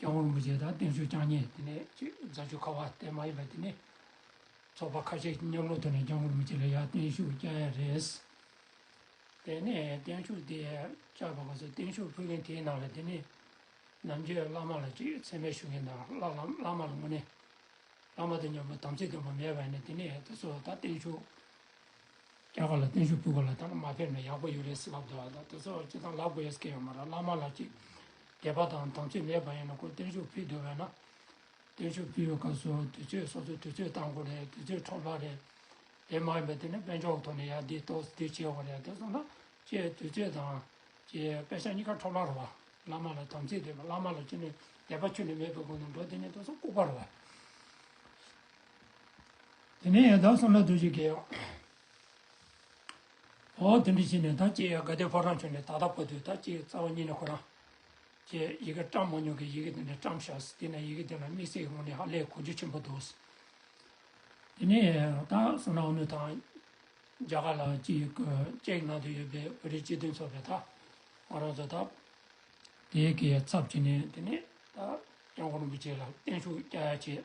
རྐྱང་བོ་རིན་པོ་ཆེ་དང་བསྟན་བཅོས་རྐྱང་གཉིས་དེ་ནས་རྫ་ཆུ་ཁ་བ་བསྟན་མ་ཡིན་པ་དེ་ནས་ཚོགས་པ་ཁ་ཤས་ཀྱི་མཉམ་ལོག་ཐོག་ནས་རྐྱང་བོ་རིན་པོ་ཆེ་ལ་ཡར་བརྟན་བཞུགས་བསྐྱངས་ཡ་རེད། དེ་ནས་བརྟན་བཞུགས་དེ་བཅག་པ་ག་ཚོད་བརྟན་བཞུགས་ཕུལ་མཁན་དེའི་ནང་ལ་དེ་ནས་ནམ་རྒྱུན་བླ་མ་ལ་ཅིག་ཚད་མའི་ཞུ་མཁན་དང་བླ་ལམ་བླ་མ་ལ་དངོས་གནས་བླ་མ་དང་མཉམ་པོ་དམ་ཚིག་སྟོན་པ་མེད་པ་ནས་དེ་ནས་ད་གཟོད་ད་བརྟན་བཞུགས། རྒྱ་གར་ལ་བརྟན་བཞུགས་ཕུལ་བ་ལ་ད་ནི་མ་ཕེབས་ན་ཡག་པོ་ཡོད་རེད་ཟེར་ལབ་འདུག་ཨ་ད་དེ་ཚོ་ཅི་ཙང་ལབ་དགོས་ཡས་སྐད་ཡོད་མ་ར་བླ་མ་ལ་ཅིག་དད་པ་དང་དམ་ཚིག་མེད་པ་ཡིན་ན་ཁོ་བརྟན་བཞུགས་ཕུལ་འདོད་བས་ན། བརྟན་བཞུགས་ཕུལ་བའི་སྐབས་སུ་དུས་ཚོད་སོ་སོ་དུས་ཚོད་བཏང་དགོས་རེད་དུས་ཚོད་འཕྲོ་བརླག་རེད། དེ་མ་ཡིན་པ་དེ་ནི་དཔལ་འབྱོར་ཐོག་ནས་ཡ་འདི་གཏོགས་འདི་བྱས་བ་རེད་དེ་སོང་ན་ཅེས་དུས་ཚོད་དང། ཅེས་དཔེ་ཆ་གཉིས་ཀ་འཕྲོ་བརླག་རོ། བླ་མ་ལ་དམ་ཚིག་དད་པ་བླ་མ་ལ་ཅི་ནས་དད་པ་ཆུད་ནས་མེད་པའི་སྒོ་ནས་འགྲོ་དེ་ནས་དེ་ཚོ་ལྐུགས་པ་རེད། དེ་ནས་ཡང་དག་སོང་ན་རྡོ་རྗེ་དགེ། ཧོ། དེ་འདྲི་བྱས་ནས་ད་ཅི་ཡང་དགའ་དད་ཕོ་བྲང་བྱོན་ནས་ད་ལྟ་བར་དུ་ད་ཅི་ཡང་རྩ་བ་ཉིད་ནས་ཁོ་རང། ཅེས་ཡི་གེ་བཀྲམ་མ་མྱོང་གི་ཡི་གེ་དེ་འདྲ་བཀྲམ་བཞག་དེ་ནས་ཡི་གེ་དེ་ལ་དམིགས་བསལ་གྱི་ངོ་ནས་ཧ་ལས་གོ་རྒྱུ་ཆེན་པོ་འདུག། དེ་ནས་ཡང་དག་སོང་ན་ཨ་ནུ་དང། རྒྱ་གར་ལ་ཅི་ཡི་གོ་ཅེག་ནང་དུ་ཡོད་པའི་བོད་རིགས་སྤྱི་མཐུན་ཚོགས་པའི་ད། ང་རང་ཚོ་ད། དེའི་གི་ཚབ་བྱས་ནས་དེ་ནས་ད། སྐྱབས་མགོན་རིན་པོ་ཆེ་ལ་བརྟན་བཞུགས་བསྐྱལ་བྱས།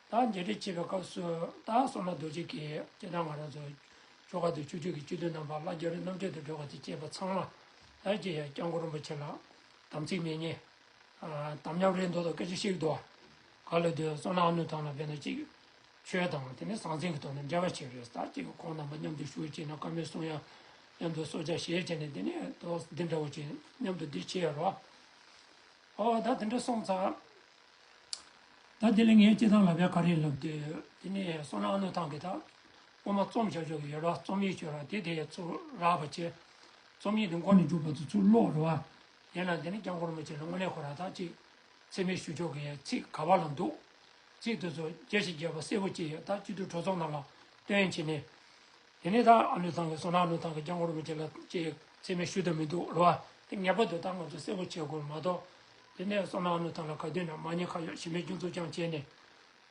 དང་མཇལ་འཕྲད་བྱེད་པའི་སྐབས་སུ་དང་སོ་ན་རྡོ་རྗེ་གེ་སྐྱེ་དང་ང་རང་ཚོ་ཆོ་ག་དུ་ཆུ་ཆོས་ཀྱི་སྤྱི་དོན་དམ་པ་བླ་རྒྱ་རི་རྣམ་འཕྲལ་དུ་སྒྲོལ་བ་དེ་བཅས་པ་ཚང་མ་ལ་རྗེ་ཡབ་སྐྱབས་མགོན་རིན་པོ་ཆེ་ལགས་དམ་ཚིག་མེད་ཉེས་དམ་ཉམས་རེ་མདོ་དང་སྐད་ཆ་བཤིག་དོ། ག་ལེ་དོན་སོ་ན་ཨ་ནུ་ཐང་ལ་བས་ན་ཅིག། ཆོས་དང་དེ་ནི་ཟང་ཟིང་གི་ཐོག་ནས་འབྲེལ་བ་བྱེད་རེས་ད་ཅིག་ཁོང་རྣམ་པ་མཉམ་དུ་བཞུགས་བྱས་ན་དཀའ་མོད་གསུང་ཡ། མཉམ་དུ་སྲོག་ཆགས་ཞེས་བྱས་ནས་འདི་ནས་དོགས་འདི་འདྲ་བོ་བྱས་མཉམ་དུ་འདི་བྱས་རོགས། ཨོ་ད་དེ་འདྲ་སོང་ཙང། ད་དེ་ལས་ངའི་སྐྱེས་ཐང་ལ་བད་ག་རེ་ལབ་དུས་དེ་ནས་སོང་ན་ཨ་ནུ་ཐང་གི་ད་སྔོན་མ་རྩོམ་བྱ་ཆོག་གི་ཡོད་ར་རྩོམ་ཡིག་ཆོད་ར་དེ་དེ་ཚོ་རག་པ་བྱེད། རྩོམ་ཡིག་དེ་མགོ་ནས་འགྲུབ་བར་དུ་ཚུར་ཀློག་རོགས་ཨ། ཡིན་ན་དེ་ནས་ཀྱང་ཁོར་མོ་ཆེ་ལ་དངོས་གནས་ཁོ་རང་ཐང་ཅིག་འཚེ་མེད་ཞུ་ཆོག་གི་ཡ་ཚིག་ག་བ་ལ་འདུག། ཚིག་དེ་ཚོ་རྒྱ་ཞིག་རྒྱས་པ་གསལ་བོ་ཅིག་ཡོད་ད་སྤྱི་འཐུས་གྲོས་ཚོགས་ནང་ལ་སྟོན་བྱེད་ནས། དེ་ནས་ད་ཨ་ལུས་ཐང་གི་སོ་ནག་ལུས་ཐང་གི་རྐྱང་འཁོར་མི་བྱེད་ལ་ཅེས་ཚད་མའི་ཤུལ་དུ་མི་འདུག་རོ། དེ་ངེས་པར་དུ་ད་ང་ཚོས་གསལ་བོ་བྱེད་དགོས་མ་གཏོགས། དེ་ནས་སོ་ནག་ལུས་ཐང་ལ་ག་དུས་ན་མ་ཉེས་ཁ་གཡོག་ཞི་མེད་སྐྱོན་འཛུགས་རྐྱང་བྱས་ནས།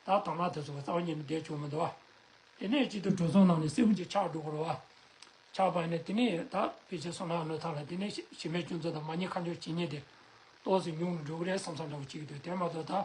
ད་དོག་སྣང་དེ་ཚོ་གི་རྩ་བ་ཉིད་ནས་བསྡད་བྱུང་མི་འདུག་བ། དེ་ནས་གཅིག་ཏུ་གྲོས་ཚོགས་ནང་ནས་སྲིད་བློན་གྱི་ཕྱག་བསྒྲུགས་རོ། ཕྱག་བར་ནས་དེ་ནས་ད་ཕལ་ཆེར་སོ་ནག་ལུས་ཐང་ལ་དེ་ནས་ཞི་མེད་སྐྱོན་འཛུགས་དང་མ་ཉེས་ཁ་འཇོག་བྱེད་ཉེས་དེ། ཏོག་ཙེ་ཉུང་རུ་འགྲོ་གི་རེད་བསམ་བསམ་འདྲ་བོ་ཅིག་གི་འདུག་དེ་མ་གཏོགས་ད།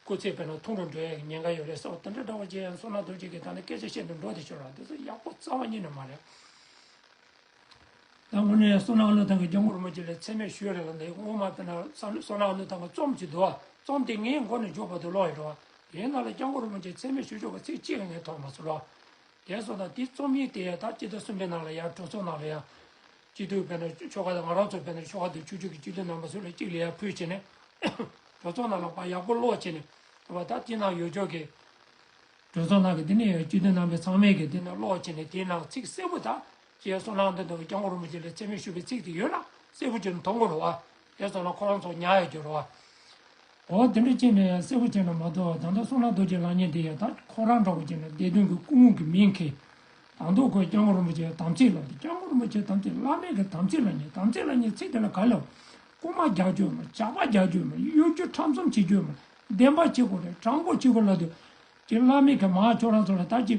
སྐུ་ཚེ་བས་ན་ཐུང་རུ་འགྲོ་ཡས་ཉེན་ཁ་ཡོད་རེད་སོགས་དེ་འདྲ་འདྲ་བ་རྗེ་ཡང་སོ་ན་རྡོ་རྗེ་གིས་ད་ནི་སྐད་ཆ་བཤད་དུ་འགྲོ་དེ་ཆོས་ར་དེ་ཚོ་ཡག་པོ་རྩ་བ་ཉིད་ནས་མ་རེད། ད་སྔོན་ནས་སོ་ན་ཨ་ལོ་ཐང་གི་རྒྱ་མགུར་མོ་རྗེ་ལས་ཚད་མེད་ཞོས་རེད་ལ་འདི་སྔོན་མ་བས་ན་སོ་ན་ཨ་ལོ་ཐང་གི་རྩོམ་གྱི་འདུག་རྩོམ་དེ་ངའི་མགོ་ནས་འཇུག་པ་དུ་ལོག་ཡོད་འགྲོ། དེའི་ནང་ལ་རྒྱ་མགུར་མོ་རྗེ་ཚད་མེད་ཞོས་ཞུ་བ་ཚིག་གཅིག་ལ་ངས་ཐོག་མ་སུ་ལོག། དེ་སོ་ན་དེ་རྩོམ་ཡིན་དེ་ཡང་ད་སྤྱི་ཟླ་གསུམ་པའི་ནང་ལ་ཡང་གྲོས་ཚོགས་ནང་ལ་ཡང། སྤྱི་འཐུས་བོད་ནང་ཆོལ་ཁ་དང་ང་རང་ཚོ་བོད་ནང་ཆོལ་ཁ་དུ་ཆུག་ཆུག་གི་སྤྱི་འཐུས་རྣམ་པ་ཚོ་ལ་གཅིག་ལས་ཡག་ཕུལ་བྱས་ནས་གྲོས་ཚོགས་ནང་ལ་བ་ཡག་པོ་ཀློག་བྱས་ནས་བ་ད་དེ་ནང་ཡོད་ཆོག་གི། གྲོས་ཚོགས་ནང་གི་དེ་ནས་ཡོད་སྤྱི་འཐུས་རྣམ་པས་ཚང་མས་གི་དེ་ནང་ཀློག་བྱས་ནས་དེའི་ནང་ཚིག་གསལ་པོ་ད་ཀྱེ་སོ་ནང་དུ་འདུག་སྐྱག་མགོ་རུ་མི་བྱེད་ལ་ཚད་མེད་ཤོད་པའི་ཚིག་དེ་ཡོད་ན་གསལ་པོ་བྱས་ནས་ཐོ་འགོད་ལ་བ་དེ་ཚོ་ལ་ཁོང་ཚོ་ཉག་ཡོད་འགྱུར་བ། འོ་འདི་འདྲ་ཅན་ནི་ཡང་སེར་བོ་ཅན་ན་མ་གཏོགས་ད་ལྟ་སོང་ན་རྡོ་རྗེ་ལགས་ཉིད་འདི་ཡང་ད་ཁོ་རང་འདྲ་བོ་ཅན་ན་བདེ་སྟོན་གྱི་སྐུ་དངོས་ཀྱི་མིང་གིས་དང་ཐོག་ཁོས་སྐྱབས་མགོན་རིན་པོ་ཆེའི་དམ་ཚིག་ལ་འདི་སྐྱབས་མགོན་རིན་པོ་ཆེའི་དམ་ཚིག་བླ་མེད་ཀྱི་དམ་ཚིག་ལ་ཉེ་དམ་ཚིག་ལ་ཉེ་ཚིག་དེ་ལ་ག་ལ་རྐུ་མ་རྒྱག་རྒྱུ་མ་ཇག་པ་རྒྱག་རྒྱུ་མ་གཡོ་སྒྱུ་ཁྲམ་གསུམ་བྱེད་རྒྱུ་མ་བདེན་པ་གཅིག་གོ་རེད་དྲང་པོ་གཅིག་གོ་ལ་དུ་གི་བླ་མེད་ཀྱི་མ་ཁྱོད་རང་ཚོ་ལ་ད་ཅི་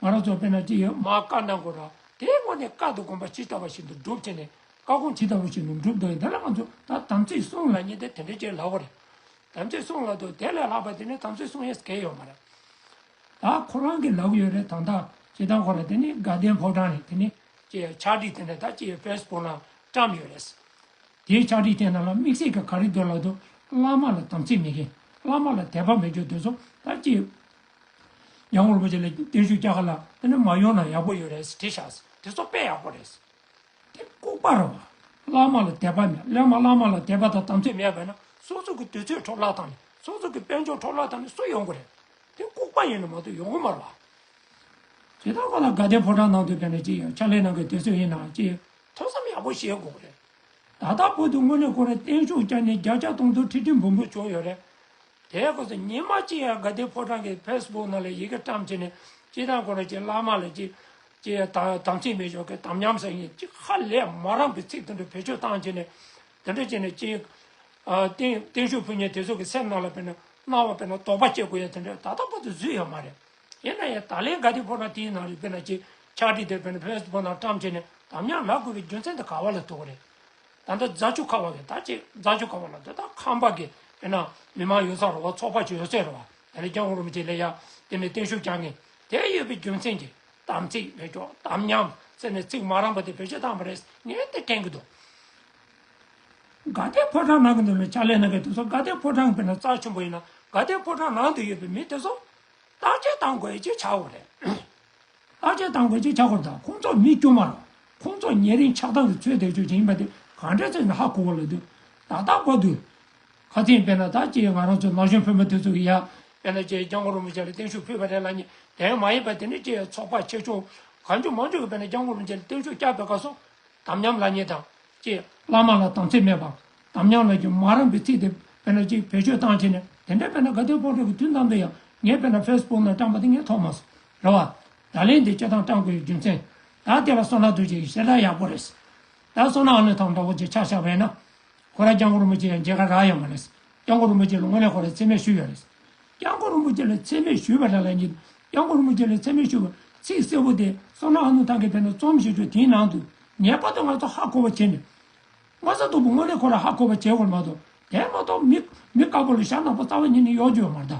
ང་རང་ཚོ་དཔེར་ན་ཅི་ཡོད་མ་བཀའ་གནང་དགོས་ར་དེའི་སྔོན་ནས་བཀའ་དུ་དགོངས་པ་ཇི་ལྟ་བ་བཞིན་དུ་སྒྲུབ་བྱེད་ནས་བཀའ་དགོངས་ཇི་ལྟ་བུ་ཞིག་ནུབ་འགྲུབ་དང་དེ་ལ་ང་ཚོ་ད་དམ་ཚིག་བསྲུང་ལ་ཉེ་དེ་དེ་འདྲའི་ཆེད་ལགས་པ་རེད། དམ་ཚིག་བསྲུང་ལ་དུ་དེ་ལས་ལྷག་པ་དེ་ནི་དམ་ཚིག་བསྲུང་ཡས་གས་ཡོད་མ་རེད། ད་ཁོ་རང་གི་ལབ་ཡོད་རེད་ད་ད་ཇི་ལྟར་ཁོ་རང་དེ་ནི་དགའ་ལྡན་ཕོ་བྲང་ནས་དེ་ནི་ཅེས་ཕྱག་བྲིས་དེ་འདྲ་ད་ཅི་ཡོད་ཕེས་སྦུག་ནང་བཀྲམས་ཡོད་རེད། དེའི་ཕྱག་བྲིས་དེ་རྣམས་ལ་དམིགས་བསལ་གྱི་ག་རེ་འདོད་ལགས་དུ་བླ་མ་ལ་དམ་ཚིག་མེད་མཁན་བླ་མ་ལ་དད་པ་མེད་ཀྱི་དུས་སུ་ད་ཅི་ཡོད། ཡང་རིན་པོ་ཆེ་ལ་བརྟན་བཞུགས་བསྐྱལ་ག་ལ་དེ་ནི་མ་ཡོང་ན་ཡག་པོ་ཡོད་རེད་ཟེར་བྲིས་ཤག་ཟེར་དེ་ཚོ་དཔེ་ཡག་པོ་རེད། དེ་ལྐུགས་པར་རོ། བླ་མ་ལ་དད་པ་མེད། སླད་མ་བླ་མ་ལ་དད་པ་དང་དམ་ཚིག་མེད་པས་ན་སོག་ཚུགས་ཀྱི་དུས་ཚོད་འཕྲོ་བརླག་དང་ནི་སོག་ཚུགས་ཀྱི་དཔལ་འབྱོར་འཕྲོ་བརླག་དང་ནི་སུ་ཡོང་གི་རེད། དེ་ལྐུགས་པ་ཡིན་ན་མ་གཏོགས་ཡོང་གི་མ་རེད་བ། དེ་ལྟར་མ་ལ་དགའ་ལྡན་ཕོ་བྲང་ནང་དུ་བས་ན་ཅི་ཡང་ཕྱག་ལས་གནང་གི་དུས་ཚོད་ཡིན་ནའང་ཅི་ཡང་ཐོས་བསམ་ཡག་པོ་བྱེད་དགོས་གི་རེད། ད་ལྟ་བོད་དུ་དངོས་གནས་ཁོ་རང་བརྟན་བཞུགས་བསྐྱངས་ནས་བརྒྱ་ཆ་སྟོང་དུ་ཁྲི་ཁྲི་འབུམ་འབུམ་བྱུང་ཡོད་རེད། དེའི་སྐབས་སུ་ཉི་མ་གཅིག་ཡང་དགའ་ལྡན་ཕོ་བྲང་གི་ཕེས་སྦུག་ནང་ལ་ཡི་གེ་བཀྲམ་བྱས་ནས་སྤྱི་དང་གོ་ལ་གྱི་བླ་མ་ལ་གཅིག་དམ་ཚིག་མེད་ཞོག་གི་དམ་ཉམས་སེང་ཉིན་གཅིག་ཧ་ལས་མ་རངས་པའི་ཚིག་དུད་འགྲོ་བེད་སྤྱོད་བཏང་བྱས་ནས་དུད་འགྲོ་བྱས་ནས་སྤྱི། བརྟན་བཞུགས་ཕུལ་ཉིན་དེ་ཚོ་གི་སེམས་ནང་ལ་དཔེར་ན་སྣང་བ་དཔེར་ན་དོགས་པ་སྐྱེ་དགོས་ཡ་དེ་འདྲ་ད་ལྟ་བར་དུ་བཟོས་ཡ་མ་རེད། ཡིན་ན་ཡང་ད་ལན་དགའ་ལྡན་ཕོ་བྲང་དེའི་ནང་ལ་དཔེར་ན་གཅིག་ཕྱག་བྲིས་དེ་དཔེར་ན་ཕེས་སྦུག་ནང་བཀྲམ་བྱས་ནས་དམ་ཉམས་ལག་དགོས་པའི་རྒྱུ་མཚན་དེ་ག་བ་ལ་ཐུག་གོ་རེད། ད་ལྟ་རྫ་ཆུ་ཁ་བ་ལས་ད་ཅེས་རྫ་ཆུ་ཁ་བ་ལ་འདི་དག་ཁམས་པ་གི་དཔེར་ན་མི་དམངས་ཡོད་ས་རུ་བ་ཚོགས་པ་ཆུ་ཡོད་ཚད་རུ་བ་ད་ལས་ཀྱང་འུ་རུ་མི་བྱེད་ལས་ཡ་དེ་ནས་བརྟན་ཤུགས་བསྐྱང་ངེས་དེ་ཡོད་པའི་རྒྱུ་མཚན་གྱི་དམ་ཚིག་ལས་ཀྱོག་དམ་ཉམས་ཟེར་ནས་ཚིག་མ་རངས་པ་དེ་བེད་སྤྱོད་བཏང་བ་རེད་ངས་དེ་དྲན་གི་འདུག། དགའ་ལྡན་ཕོ་བྲང་ནང་གི་འདུག་ལ་ཕྱག་ལས་གནང་མཁན་དེ་ཚོ་དགའ་ལྡན་ཕོ་བྲང་གི་དཔེར་ན་རྩ་ཆེན་པོ་ཡིན་ན་དགའ་ལྡན་ཕོ་བྲང་ནང་དུ་ཡོད་པའི་མི་དེ་ཚོ་བརྟག་དཔྱད་བཏང་དགོས་ཡོད་ཅེས་བྱ་བ་རེད། ཨ་ཅེ་དང་བོ་ཅེས་བྱ་བར་དང་ཁོང་ཚོ་མི་དཀྱུས་མ་རང་ཁོང་ཚོ་ཉེ་རིང་ཆགས་སྡང་གི་ཚོད་དེ་ཆོས་ཅན་ཡིན་པ་དེ་གང་འདྲས་ཚོད་ནི་ཧ་གོ་བ་ལ་དུས་ད་ལྟ་གོ་དུས། ཁ་ཚིག་དཔེར་ན་ད་ཅེས་ང་རང་ཚོ་ན་གཞོན་བུ་མོ་དེ་ཚོ་གི་ཡ། དཔེར་ན་ཅེས་རྒྱ་མགོ་རོང་མི་ཅག་ལ་བརྟན་བཞུགས་ཕུལ་བ་རེད་ལ་ཉེ་དེ་མ་ཡིན་པ་དེ་ནི་ཅེས་ཚོགས་པ་ཆེ་ཆུང། གང་ཅུང་མང་ཅུང་གི་དཔེར་ན་རྒྱ་མགོ་རོང་ཅག་ལ་བརྟན་བཞུགས་བསྐྱར་བས་བཀའ་སོང། དམ་ཉམས་ལ་ཉེ་དང། ཅེས། བླ་མ་ལ་དམ་ཚིག་མེད་པའམ་དམ་ཉམས་ལ་ཅུང་མ་རངས་པའི་ཚིག་དེ་དཔེར་ན་ཅེས་བེད་སྤྱོད་བཏང་བྱས་ནས་དེ་འདྲའི་དཔེར་ན་དགའ་ལྡན་ཕོ་བྲང་གི་དུས་ནམ་དུ་ཡང་ངའི་དཔེར་ན་ཕེས་སྤུག་ནང་བཀྲམས་པ་དེ་ངས་མཐོང་མ་སོང། རེད་བ། ད་ལན་འདི་སྤྱི་ཐང་སྤྲང་པོའི་རྒྱུ་མཚན། ད་དེ་ལ་སོང་ན་རྡོ་རྗེ་ཡི་ཞལ་ཐང་ཡག་པོ་རེད། ད་སོང་ན་ཨ་ནུ་ཐང་འདྲ་བོ་ཅིག་ཆགས་ཤག་བས་ན། ཁོ་རང་སྐྱང་ཀོ་རིན་པོ་ཆེ་ཡང་མཇལ་ཁ་རག་ཡག་མ་རེད། སྐྱང་ཀོ་རིན་པོ་ཆེ་ལ་དངོས་གནས་ཁོ་རང་འཚེ་མེད་ཞུས་ཡོད་རེད། སྐྱང་ཀོ་རིན་པོ་ཆེ་ལ་འཚེ་མེད་ཞུས་པ་རེད་ལ་ཉིད་སྐྱང་ཀོ་རིན་པོ་ཆེ་ལ་འཚེ་མེད་ཞུས་པ་ཚིག་གསལ་བོ་དེ་སོང་ན་ཨ་ནུ་ཐང་གི་བས་ན་རྩོམ་བཞེས་ཆོག་དེའི་ནང་དུ་ངེས་པར་དུ་ང་ཚོ་ཧ་གོ་བ་བྱེད་ནི། ངོ་ཚ་སྟུག་པོ་དངོས་གནས་ཁོ་རང་ཧ་གོ་བ་བྱེད་དགོས་མ་གཏོགས་དེ་མ་གཏོགས་མི་དཀར་པོ་ལ་ཞྭ་ནག་པོ་རྩ་བ་ཉིད་ནས་གཡོག་རྒྱུ་ཡོད་མ་རེད།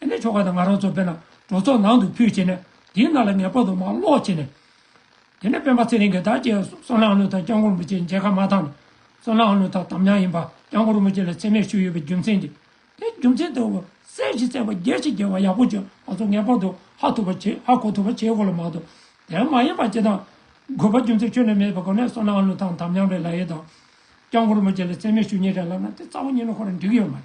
དེ་ནས་ཆོ་ག་དང་ང་རོ་ཚོ་འབེན་ལ་གྲོ་ཚོགས་ནང་དུ་ཕུལ་བྱས་ནས་དེའི་སྣ་ལ་ངེས་པར་དུ་མ་སློག་བྱས་ནས། དེ་ནས་སྤེན་པ་ཚེ་རིང་གིས་བདག་བསྐྱེད་བསོད་ནམས་ཨ་ནུ་དང་སྐྱབས་འཁོར་མུ་ཅེའི་མཇལ་ཁ་མ་ཐག་ནས་བསོད་ནམས་ཨ་ནུ་དང་དམ་ཉམས་ཡིན་པ་སྐྱབས་འཁོར་མུ་ཅེ་ལ་ཚད་མེད་ཞུས་ཡོད་པའི་རྒྱུ་མཚན་གྱིས་དེ་རྒྱུ་མཚན་དུ་གསལ་བཞིན་བསྩལ་བ་རྒྱལ་བྱེད་རྒྱལ་བ་ཡག་པོ་བྱོས་ང་ཚོ་ངེས་པར་དུ་ཧ་ཐུབ་པ་བྱེད་ཧ་གོ་ཐུབ་པ་བྱེད་དགོས་ལ་མ་གཏོགས་དེ་མ་ཡིན་པ་བྱེད་སྟངས་དགོས་པ་རྒྱུ་མཚན་ཁྱོན་ནས་མེད་པའི་སྒོ་ནས་བསོད་ནམས་ཨ་ནུ་དང་དམ་ཉམས་པའི་ལ་ཡེ་དང། སྐྱབས་འཁོར་མུ་ཅེ་ལ་ཚད་མེད་ཞུ་ཉེས་རེད་ལབ་ན་དེ་རྩ་བ་ཉིད་ནས་ཁོ་རང་འགྲིག་ཡོད་མ་རེད།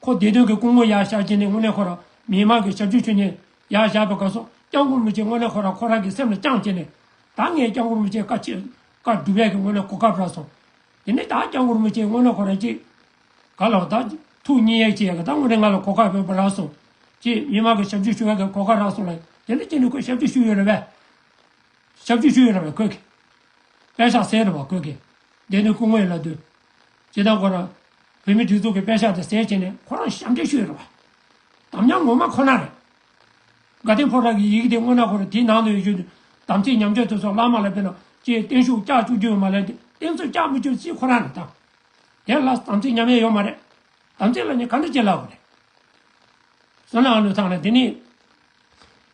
ཁོ་བདེ་དོན་གྱི་སྐུ་ངོ་ཡག་ཤག་ཅན་ནི་དངོས་གནས་ཁོ་རང་མི་དམངས་ཀྱི་ཞབས་ཞུ་ཆོས་ཉན་ཡག་ཤག་པའི་ག་སོག་སྐྱང་གུར་མི་བྱེད་དངོས་གནས་ཁོ་རང་ཁོ་རང་གི་སེམས་ལ་རྐྱང་བྱེད་ནས་ད་ངས་སྐྱང་གུར་མི་བྱེད་བཀའ་ཆད་བཀའ་སྒྲུབ་ཡག་གི་དངོས་གནས་གོ་སྐབས་རག་སོང་དེ་ནས་ད་སྐྱང་གུར་མི་བྱེད་དངོས་གནས་ཁོ་རང་ཅིག་ག་ལ་ད་ཐུགས་གཉིས་ཡག་བྱེད་ཡག་གི་ད་དངོས་གནས་ང་ལ་གོ་སྐབས་ཡོད་པ་རག་སོང་ཅེས་མི་དམངས་ཀྱི་ཞབས་ཞུ་ཞུ་ཡག་གི་གོ་སྐབས་རག་སོང་ལ་དེ་ནས་ཅི་ནས་ཁོས་ཞབས་ཞུ་ཞུ་ཡོད་རེད་བས། ཞབས་ཞུ་ཞུ་ཡོད་རེད་བས་ཁོས། དཔེ་ཆ་ཟེར་རེད་བ་ཁོས། བདེ་དོན་སྐུ་ངོ་ཡིན་ལ་དུས་ཅེས་དང་ཁོ་རང་བོད་མི་སྒྲིག་འཛུགས་ཀྱི་དཔེ་ཤག་དེ་གསལ་བྱས་ནས་ཁོ་རང་ཞབས་འདེགས་ཞུ་ཡི་རེད་པ། དམ་ཉམས་ངོ་མ་ཁོ་ན་རེད། དགའ་ལྡན་ཕོ་བྲང་གི་ཡི་གེ་དེ་སྔོན་ན་ཁོ་རང་དེའི་ནང་དུ་ཡོད་རྒྱུ་དམ་ཚིག་ཉམས་ཆག་དེ་ཚོ་བླ་མ་ལ་དཔེ་ན་ཁྱེད་བརྟན་བཞུགས་བཀྱག་བཅུག་རྒྱུ་ཡོད་མ་རེད་དེ་བརྟན་བཟོ་བཀྱག་མི་བཅུག་སྲིད་ཁོ་རང་རེད་དམ། དེ་ལ་དམ་ཚིག་ཉམས་ཡས་ཡོད་མ་རེད། དམ་ཚིག་ལ་ནི་ག་འདྲ་བྱེད་སླ་བོ་རེད། བསོད་ནམས་ལོས་ཐང་ལ་དེ་ནི།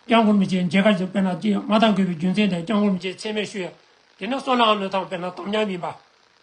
སྐྱག་མགོར་མི་བྱེད་མཇལ་ཁ་བྱེད་དཔེ་ན་ཀྱེ་མ་དང་དགོས་པའི་རྒྱུ་མཚན་དེ་སྐྱག་མགོར་མི་བྱེད་ཚད་མས་ཞུ་ཡ། དེ་ནི་བསོད་ནམས་ལོས་ཐང་དཔེ་ན་དམ་ཉམས་ཡིན་པ།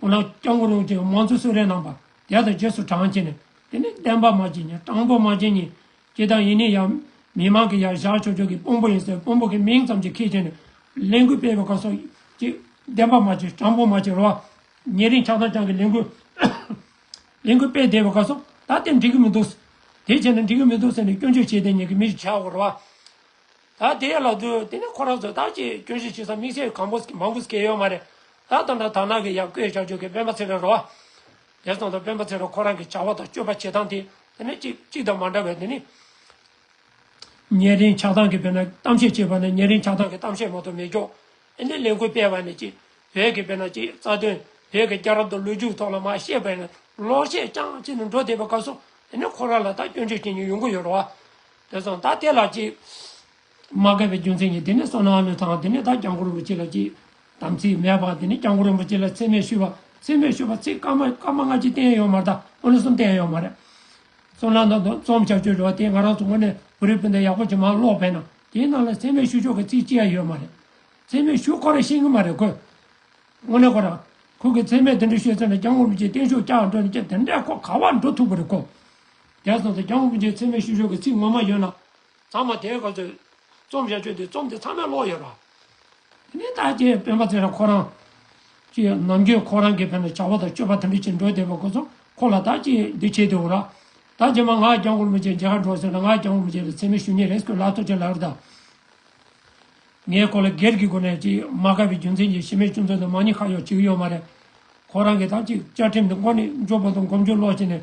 ཁོ་ལ་སྐྱབས་མགོན་རོགས་ཀྱིས་དམངས་གཙོའི་གསོལ་རས་གནང་པར་རྒྱལ་དང་རྗེས་སུ་འབྲང་བྱས་ནས་དེ་ནི་བསྟན་པ་མ་བྱིན་ཅིང་སྤྲང་པོ་མ་བྱིན་གཉིས་ཀྱི་དང་ཡིན་ནི་ཡང་མི་མང་གིས་ཡར་བཞག་ཆོས་ཕྱོགས་ཀྱི་དཔོན་པོ་ཡིན་ཟེར་དཔོན་པོ་གི་མིང་ཙམ་གྱིས་ཁས་བྱས་ནས་ལས་འགུལ་སྤེལ་བའི་སྐབས་སོ་ཅིག་བསྟན་པ་མ་བྱིན་སྤྲང་པོ་མ་བྱིན་རོ་ཉེ་རིང་ཆགས་སྡང་རྐྱང་གིས་ལས་འགུལ་ལས་འགུལ་སྤེལ་བསྡད་པའི་སྐབས་སོ་ད་དེ་འགྲིག་གི་མི་འདུག་དེ་བྱས་ན་འགྲིག་གི་མི་འདུག་ཟེར་ནས་སྐྱོན་བརྗོད་བྱས་བསྡད་ཉེ་གི་མི་བྱའོ་རོ། ད་དེ་ལ་དུ་དེ་ནས་ཁོ་རང་ཚོ་ད་ཅི་སྐྱོན་བཞི་བྱེད་ས་དམིགས་བྱེད་གང་པོ་མང་པོ་སྐྱེ་ཡོད་མ་རེད་ད་དང་འདྲ་དར་ནག་གི་ཡ་བསྐོས་བྱ་རྒྱུ་གི་སྤེན་པ་ཚེ་རིང་རོ་བ། དེར་སོང་དུ་སྤེན་པ་ཚེ་རིང་ཁོ་རང་གི་བྱ་བ་དང་སྤྱོད་པ་བྱེད་སྟངས་དེ་དེ་ནས་གཅིག་གཅིག་དང་མ་འདྲ་བས་དེ་ནི། ཉེ་རིང་ཆགས་སྡང་གི་བོད་ན་གཏམ་བཤད་བྱེད་པ་ནི་ཉེ་རིང་ཆགས་སྡང་གི་གཏམ་བཤད་མ་ཏོ་མེད་ཀྱོག་ཨེ་འདི་ལས་འགུལ་སྤེལ་བ་ནི་གཅིག་བོད་ཀྱི་བོད་ན་གཅིག་རྩ་དོན་བོད་ཀྱི་སྐྱ་རབས་དང་ལོ་རྒྱུས་ཐོག་ལ་མ་ཤེས་པའི་ནི་ལོག་བཤད་རྐྱང་བྱེད་ནི་འགྲོ་བསྡད་པ་སྐབས་སུ་དེ་ནས་ཁོ་རང་ལ་ད་སྐྱོན་བརྗོད་བྱེད་ཉིན་ཡོང་གི་ཡོད་རོ་བ། དེ་སོང་ད་དེ་ལ་ཅིག། མ་བསྐལ་པའི་རྒྱུ་མཚན་གྱིས་དེ་ནས་སོང་ནའང་ལོས་དང་དེ་ནས་ད་ཀྱང་གུ་རུ་རིན་པོ་ཆེ་ལ་ཅིག། དམ་ཚིག་མེད་པར་དེ་ནས་ཀྱང་གུ་རུ་རིན་པོ་ཆེ་ལ་ཚད་མེད་ཞུས་པ། ཚད་མེད་ཞུས་པ་ཚིག་སྐར་མ་སྔ་ཕྱི་བསྟན་ཡོད་མ་ཐག་ཨོ་ནུ་གསུམ་བསྟན་ཡོད་མ་རེད། གསུང་ལམ་དང་རྩོམ་བྱ་སྤྱོད་འགྲོ་བ་དེ་ང་རང་ཚོ་ངོས་ནས་གུ་རུའི་སྤུན་ཟླ་ཡག་པོ་ཇེ་མང་ཀློགས་པས་ན་དེའི་ནང་ལ་ཚད་མེད་ཞུ་ཕྱོགས་ཀྱི་ཚིག་ཅི་ཡང་ཡོད་མ་རེད། ཚད་མེད་ཞུ་ཁོ་རང་ཤེས་ཀྱི་མ་རེད་ཁོས། དངོས་གནས་ཁོ་རང། ཁོ་གིས་ཚད་མེད་དེ་འདྲ་ཤོད་ཚོད་ན་ཀྱང་གུ་རུ་རིན་པོ་ཆེ་བསྟན་ཤོག་ཀྱང་འགྲོ་ནས་ཀྱང་དེ་འདྲས་ཁོ་ག་བར་འགྲོ་ཐུབ་ཀྱི་རེད་ཁོ། རྒྱ་བཟང་དང་རྒྱ་དབུགས་འདྲའི་འཚེ་མེད་ཤུ་ཤོ་གི་ཚིག་ངོ་མ་ཡོད་ན། ཚང་མ་དེའི་སྐབས་སུ་རྩོམ་བྱ་ཆོག་དེ་རྩོམ་དེ་ཚང་མའི་ཀློག་ཡོད་ར། དེ་ནས་ད་ཀྱི་སྤེན་པ་ཚེ་རབས་ཁོ་རང། ཀྱི་ནམ་རྒྱུན་ཁོ་རང་གི་ཕེ་ན་བྱ་བ་དང་སྤྱོད་པ་དམ་འབུལ་བྱེད་འགྲོ་བསྡད་པ་ཁོ་ཚོ་ཁོ་ལ་ད་ཀྱི་འདི་བྱེད་དེ་འོ་ར། ད་ཀྱི་མ་ང་རྒྱ་མགོར་མི་བྱེད་འཇའ་གར་འགྲོ་ཟེར་ན་ང་རྒྱ་མགོར་མི་བྱེད་ལ་འཚེ་མེད་ཤུ་ཉེ་རེས་ཁོས་ལག་ཐོག་ཅིག་ལག་རེ་ད། ངས་ཁོ་ལ་སྒེར་གྱི་སྒོ་ནས་ཀྱི་མ་དགའ་བའི་རྒྱུ་མཚན་གྱི་ཤི་མེད་ཅུང་ཙམ་དང་མ་ཉེས་ཁ་གཡོག་ཅིག་ཡོད་མ་རེད། ཁོ་རང་གི་ད་ཀྱི་བཅའ་ཁྲིམས་འདི་མགོ་ནས་མགྱོགས་པོ་དང་གོམ་འགྱོད་ལོག་བྱས་ནས།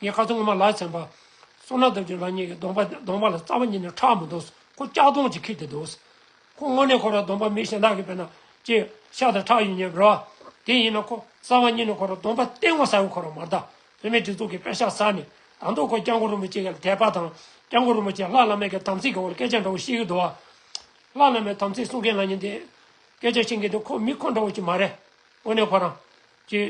ངས་ཁ་ཐུག་ངོ་མ་ལག་ཚན་པ། སོ་ནག་ལྡབ་ཀྱི་རང་ཉིད་ཀྱི་གདོང་པ་གདོང་པ་ལ་རྩ་བ་ཉིད་ནས་ཁྲག་མི་འདུག་ཟེར་ཁོ་ལྕགས་སྡོང་གཅིག་འཁྱེར་ཏེ་འདུག་ཟེར། ཁོ་དངོས་གནས་ཁོ་རང་གདོང་པ་མི་ཞེ་དྲག་གི་དཔེར་ན་ཅི། ཤ་དང་ཁྲག་ཡོད་ཉེ་བར། དེ་ཡིན་ན་ཁོ་རྩ་བ་ཉིད་ནས་ཁོ་རང་གདོང་པ་སྟེ་ངོ་ས་ཡོད་ཁོ་རང་མ་གདའ། བོད་མིའི་སྒྲིག་འཛུགས་ཀྱི་དཔེ་ཤག་གསར་ནས་དང་ཐོག་ཁོ་སྐྱབས་མགོན་རིན་པོ་ཆེ་ཡར་ལ་དད་པ་དང། སྐྱབས་མགོན་རིན་པོ་ཆེས་ལྷ་བླ་མའི་གི་དམ་ཚིག་གི་འོག་ལ་སྐད་ཆ་འདྲ་བོ་བཤད་གི་འདུག་བ། ལྷ་བླ་མའི་དམ་ཚིག་སྲུང་མཁན་ལ་ཉིན་དེ། སྐད་ཆ་བཤད་མཁན་དེ་ཁོ་མི་ཁོ་འདྲ་བོ་ཅིག་མ་རེད། དངོས་གནས་ཁོ་རང། ཅི།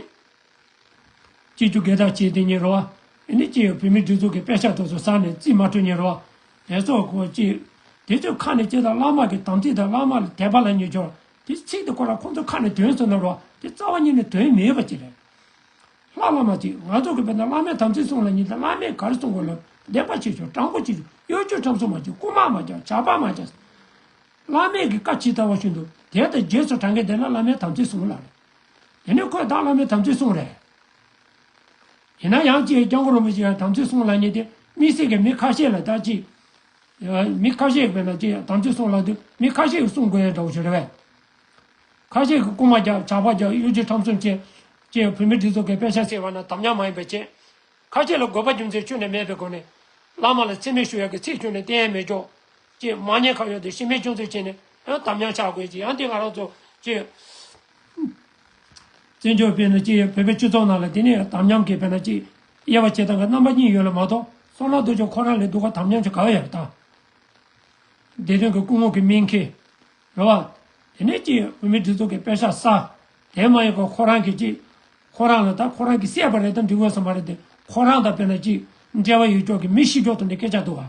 སྐྱེས་ཆུ་སྒལ་དག་བྱས་ཏེ་ཉལ་རོ། འདི་ནི་སྐྱེས་ཡོད་བུད་མེད་སྦྲུལ་གཟུགས་ཀྱི་དཔེ་ཤ་དོག་ཚོས་ཟགས་ནས་རྩིས་མ་འཕྲོད་ཉལ་རོ། དེ་སོགས་གོ། དེ་ཚོའི་ཁ་ནས་སྐྱེས་དང་བླ་མ་གི་དམ་ཚིག་དང་བླ་མ་ལ་དད་པ་ལ་མྱི་སྦྱོར། དེ་ཚིག་དེ་གོ་ལ་ཁོང་ཚོའི་ཁ་ནས་དོན་གསུངས་ན་རོ། དེ་རྩ་བ་ཉིད་ནས་དོན་མེད་པ་ཅི་རེད། ལྷ་བླ་མ་ཅིག་ང་ཚོ་གི་བོད་ན་བླ་མའི་དམ་ཚིག་གསུངས་ལ་མྱི་དང་བླ་མས་གར་གསུངས་གོ་ལོ་བདེན་པ་ཆེ་ཆུང་སྤྲང་པོ་ཆེ་ཆུང་གཡོ་སྒྱུ་ཁྲམ་གསུམ་མ་བྱེད་རྐུ་མ་མ་རྒྱག་ཇག་པ་མ་བྱ། བླ་མས་གི་བཀའ་ཇི་ལྟ་བ་ཞུ་འདུག་དེ་ལྟར་རྗེས་སུ་དྲང་གི་བདེན་ན་བླ་མའི་དམ་ཚིག་གསུངས་ལ་རེད། དེ་ནི་ཁོས་བདག་བླ་མའི་དམ་ཚིག་བསྲུངས་རེད། ཡིན་ན་ཡང་ཅིའི་རྐྱང་རོ་མི་ཞིག་ཡང་དམ་ཚིག་བསྲུངས་སླ་ཉེ་དེ་མི་སྲིད་ཀི་མི་ཁ་ཤས་ལ་བདག་ཅིག་མི་ཁ་ཤས་ཀི་ལ་ཅིག་ཡང་དམ་ཚིག་བསྲུངས་སླ་དུས་མི་ཁ་ཤས་ཀི་བསྲུངས་དགོས་ཡོད་འདྲ་བོ་ཞིག་རེད་བས། ཁ་ཤས་ཀི་རྐུ་མ་རྒྱག་ཇག་པ་རྒྱག་གཡུ་ཇི་ཁྲམ་གསུམ་བྱེད། ཅེས་བུད་མེད་འདི་ཚོ་གི་དཔེ་ཆ་ཟེར་བ་ན་དམ་ཉམས་མ་ཡིན་པའི་ཆེད། ཁ་ཤས་ལ་དགོས་པ་རྒྱུ་མཚན་ཆོས་ནས་མེད་པའི་སྒོ་ནས། བླ་མ་ལ་འཚེ་མེད་ཞུ་ཡག་གི་ཚིག་ཆུང་ནས་གཏན་ཡལ་མེད་ཀྱོག། ཅེས་མ་ཉེས་གང་ཡོད་དེ་ཤི་རྨས་ཅུང་ཙམ་བྱས་ནས་ཡང་དམ་ཉམས་ཆགས་དགོས་ཀྱི་ཡང་དེ་ང་རང་ཚོ། བཙན་བྱོལ་བས་ན་གཅིག་ཡོད་བོད་པའི་སྤྱི་ཚོགས་ནང་ལ་དེ་ནས་ཡང་དམ་ཉམས་ཀྱི་བས་ན་གཅིག། དབྱེ་བ་བྱེད་སྟངས་ཀྱི་རྣམ་པ་གཉིས་ཡོད་ལ་མ་གཏོགས་སོ་ལ་དུ་ཅོག་ཁོ་རང་ལས་སྡུག་ག་དམ་ཉམས་ཀྱི་ག་བ་ཡང་མི་གཏང། བདེ་དོན་གྱི་སྐུ་ངོ་གི་སྨིན་མཁན། རེད་བ། དེ་ནས་གཅིག་ཡོད་བོད་མི་སྒྲིག་འཛུགས་ཀྱི་དཔེ་ཤག་གསར། དེ་མ་ཡིན་ག་ཁོ་རང་གི་གཅིག། ཁོ་རང་ལ་ད་ཁོ་རང་གིས་བསད་པ་རེད་དམ་འགྲིག་དགོས་ས་མ་རེད་དེ་ཁོ་རང་དང་བས་ན་གཅིག་འབྲེལ་བ་ཡོད་ཅོག་གི་མི་ཤི་ཅོག་ཏུ་འདི་སྐད་ཆ་འདུག་ག།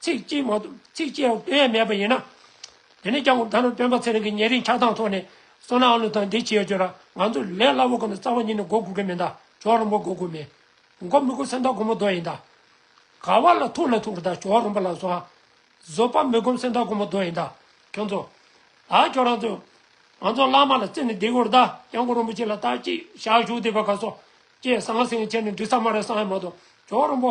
ཚིག་གཅིག་མ་གཏོགས་ཚིག་གཅིག་ཡང་བཏོན་ཡས་མེད་པ་ཡིན་ན། དེ་ནས་ཀྱང་ད་ནང་སྟོན་པ་ཚེ་རིང་གི་ཉེ་རིང་ཆགས་སྟངས་ཐོག་ནས་སོ་ནའང་ལུགས་དང་འདི་བྱེད་ཅོར་ང་ཚོ་ལས་སླ་བོ་གོ་ནས་རྩ་བ་ཉིད་ནས་འགོ་དགུ་གི་མིན་ད་ཇོ་རིན་པོ་འགོ་དགུ་མིན། འགོ་མི་དགུ་སེམས་ཐག་གོ་མོ་རྡོ་ཡིན་ད། ག་བ་ལ་ཐུག་ན་ཐུག་ད་ཇོ་རིན་པོ་ལ་སོ་ཨ། བཟོ་པ་མི་དགུམ་སེམས་ཐག་གོ་མོ་རྡོ་ཡིན་ད། ཁྱོད་ཚོ། ད་ཁྱོད་རང་ཚོས། ང་ཚོ་བླ་མ་ལ་བརྩི་ནས་འདི་གོར་ད་ཡང་འགོ་རིན་པོ་ཆེ་ལ་ད་ཅིག་བཞག་བཞུགས་བསྡིགས་པ་ག་སོ། ཅེས་ཟང་ཟིང་བྱས་ནས་འདྲི་ས་མ་རེད་བསམ་ཡས་མ་གཏོགས་ཇོ་རིན་པོ།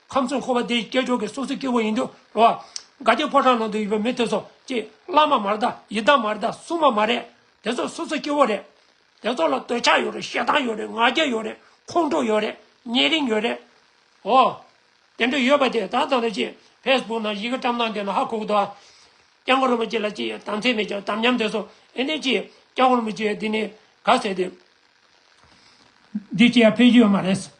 ཁམས་གསུམ་འཁོར་བ་དེའི་སྐྱེས་མཆོག་གི་སོ་སོའི་སྐྱེ་བོ་ཡིན་དུ་རུང་བ། སྒ་སྐྱེས་ཕོ་བྲང་ནང་དུ་ཡོད་པའི་མི་དེ་ཚོ་ཅི། བླ་མ་མ་རེད་དཱ་ཡི་དམ་མ་རེད་དཱ་སྲུང་མ་མ་རེད། དེ་ཚོ་སོ་སོའི་སྐྱེ་བོ་རེད། དེ་ཚོ་ལ་འདོད་ཆགས་ཡོད་རེད་ཞེ་སྡང་ཡོད་རེད་ང་རྒྱལ་ཡོད་རེད་ཁོང་ཁྲོ་ཡོད་རེད་ཉེ་རིང་ཡོད་རེད། འོ། དེ་འདྲ་ཡོད་པ་དེ་ད་ཙམ་ལ་ཅི། ཕེས་སྦུག་ནང་ཡི་གེ་བཀྲམ་སྟངས་དེ་ན་ཧ་གོ་གི་འདུག་ཨ། སྐྱག་མགོ་རིན་པོ་ཆེ་ལ་ཅི་དམ་ཚིག་མེད་ཀྱང་དམ་ཉམས་དེ་ཚོ་ཨེ་ནས་ཅི། སྐྱག་མགོ་རིན་པོ་ཆེ་འདི་ནས་ག་ཟེར་ཏེ། འདི་ཅི་ཡང་ཕན་གྱི་ཡོད་མ་རེད།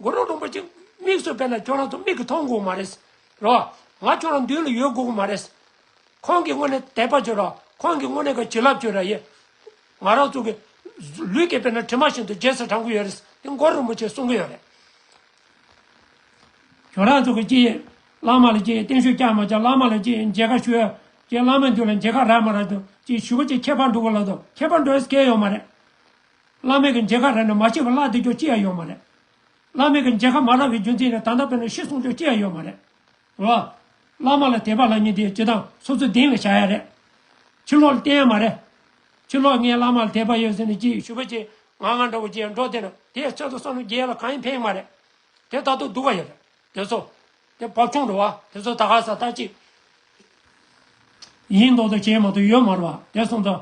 མགོ་རོ་རིན་པོ་ཆེ་དམིགས་སུ་བས་ན་ཁྱོད་རང་ཚོ་མིག་གི་མཐོང་དགོས་མ་རེད། རོ། ང་ཁྱོད་རང་མདུན་ལ་ཡོད་དགོས་གི་མ་རེད། ཁོང་གི་སྔོན་ནས་དད་པ་བྱོས་རོགས་ཁོང་གི་སྔོན་ནས་གི་བྱིན་རླབས་བྱོས་ར་ཡེ། ང་རང་ཚོ་གི། ལུས་ཀྱི་བས་ན་དྲི་མ་བཞིན་དུ་རྗེས་སུ་དྲང་གི་ཡོད་རེད། དེ་མགོ་རོ་རིན་པོ་ཆེ་གསུང་གི་ཡོད་རེད། ཁྱོད་རང་ཚོ་གི་ཅི་ཡིན། བླ་མ་ལ་ཅི་ཡིན་བརྟན་བཞུགས་བསྐྱང་མ་བསྐྱང་བླ་མ་ལ་ཅི་ཡིན་མཇལ་ཁ་ཞུ་ཡ། ཅེས་བླ་མའི་མདུན་ལ་མཇལ་ཁ་རག་མ་རག་དང་ཅིག་ཞུ་བ་ཅིག་ཁྱད་པར་འདུག་གི་ལགས་དང་ཁྱད་པར་འདུག་ཨེ་ཟེར་མཁན་ཡོད་མ་རེད། བླ་མེད་ཀྱི་མཇལ་ཁ་རེ་ནས་མ་བྱས་པར་བླ་འདི་ཅོག་ཅི་ཡང་ཡོད་མ་རེད། བླ་མེད་ཀྱི་མཇལ་ཁ་མ་རག་པའི་རྒྱུ་མཚན་ནི་ད་ལྟ་བོད་ནང་ཤི་གསོན་ཅོག་ཅི་ཡང་ཡོད་མ་རེད། བླ། བླ་མ་ལ་དད་པ་ལ་ཉིན་དེའི་སྤྱི་དང་སོ་སོའི་གདིང་ལ་བྱ་ཡ་རེད། ཕྱི་ལོག་ལ་བལྟས་ཡ་མ་རེད། ཕྱི་ལོག་ངས་བླ་མ་ལ་དད་པ་ཡོད་ཟེར་ནས་ཅིག་ཞུ་བ་ཅིག་ང་ང་འདྲ་བོ་ཅིག་ཡང་འགྲོ་བསྡད་ན་དེའི་ཚེ་ད་བསམ་བློ་རྒྱས་ཡ་ལ་གང་ཡིན་ཕན་ཡོད་མ་རེད། དེ་ད་དུང་སྡུག་ག་ཡོད་རེད་དེ་ཚོ། དེ་བབ་ཆུང་འགྲོ་བ་དེ་ཚོ་ད་ག་ས་ལྟ་ཅི། ཡིན་མདོག་དང་བྱས་མ་ཐུབ་ཡོད་མ་རུ་བ་དེ་གསུངས་ཙང།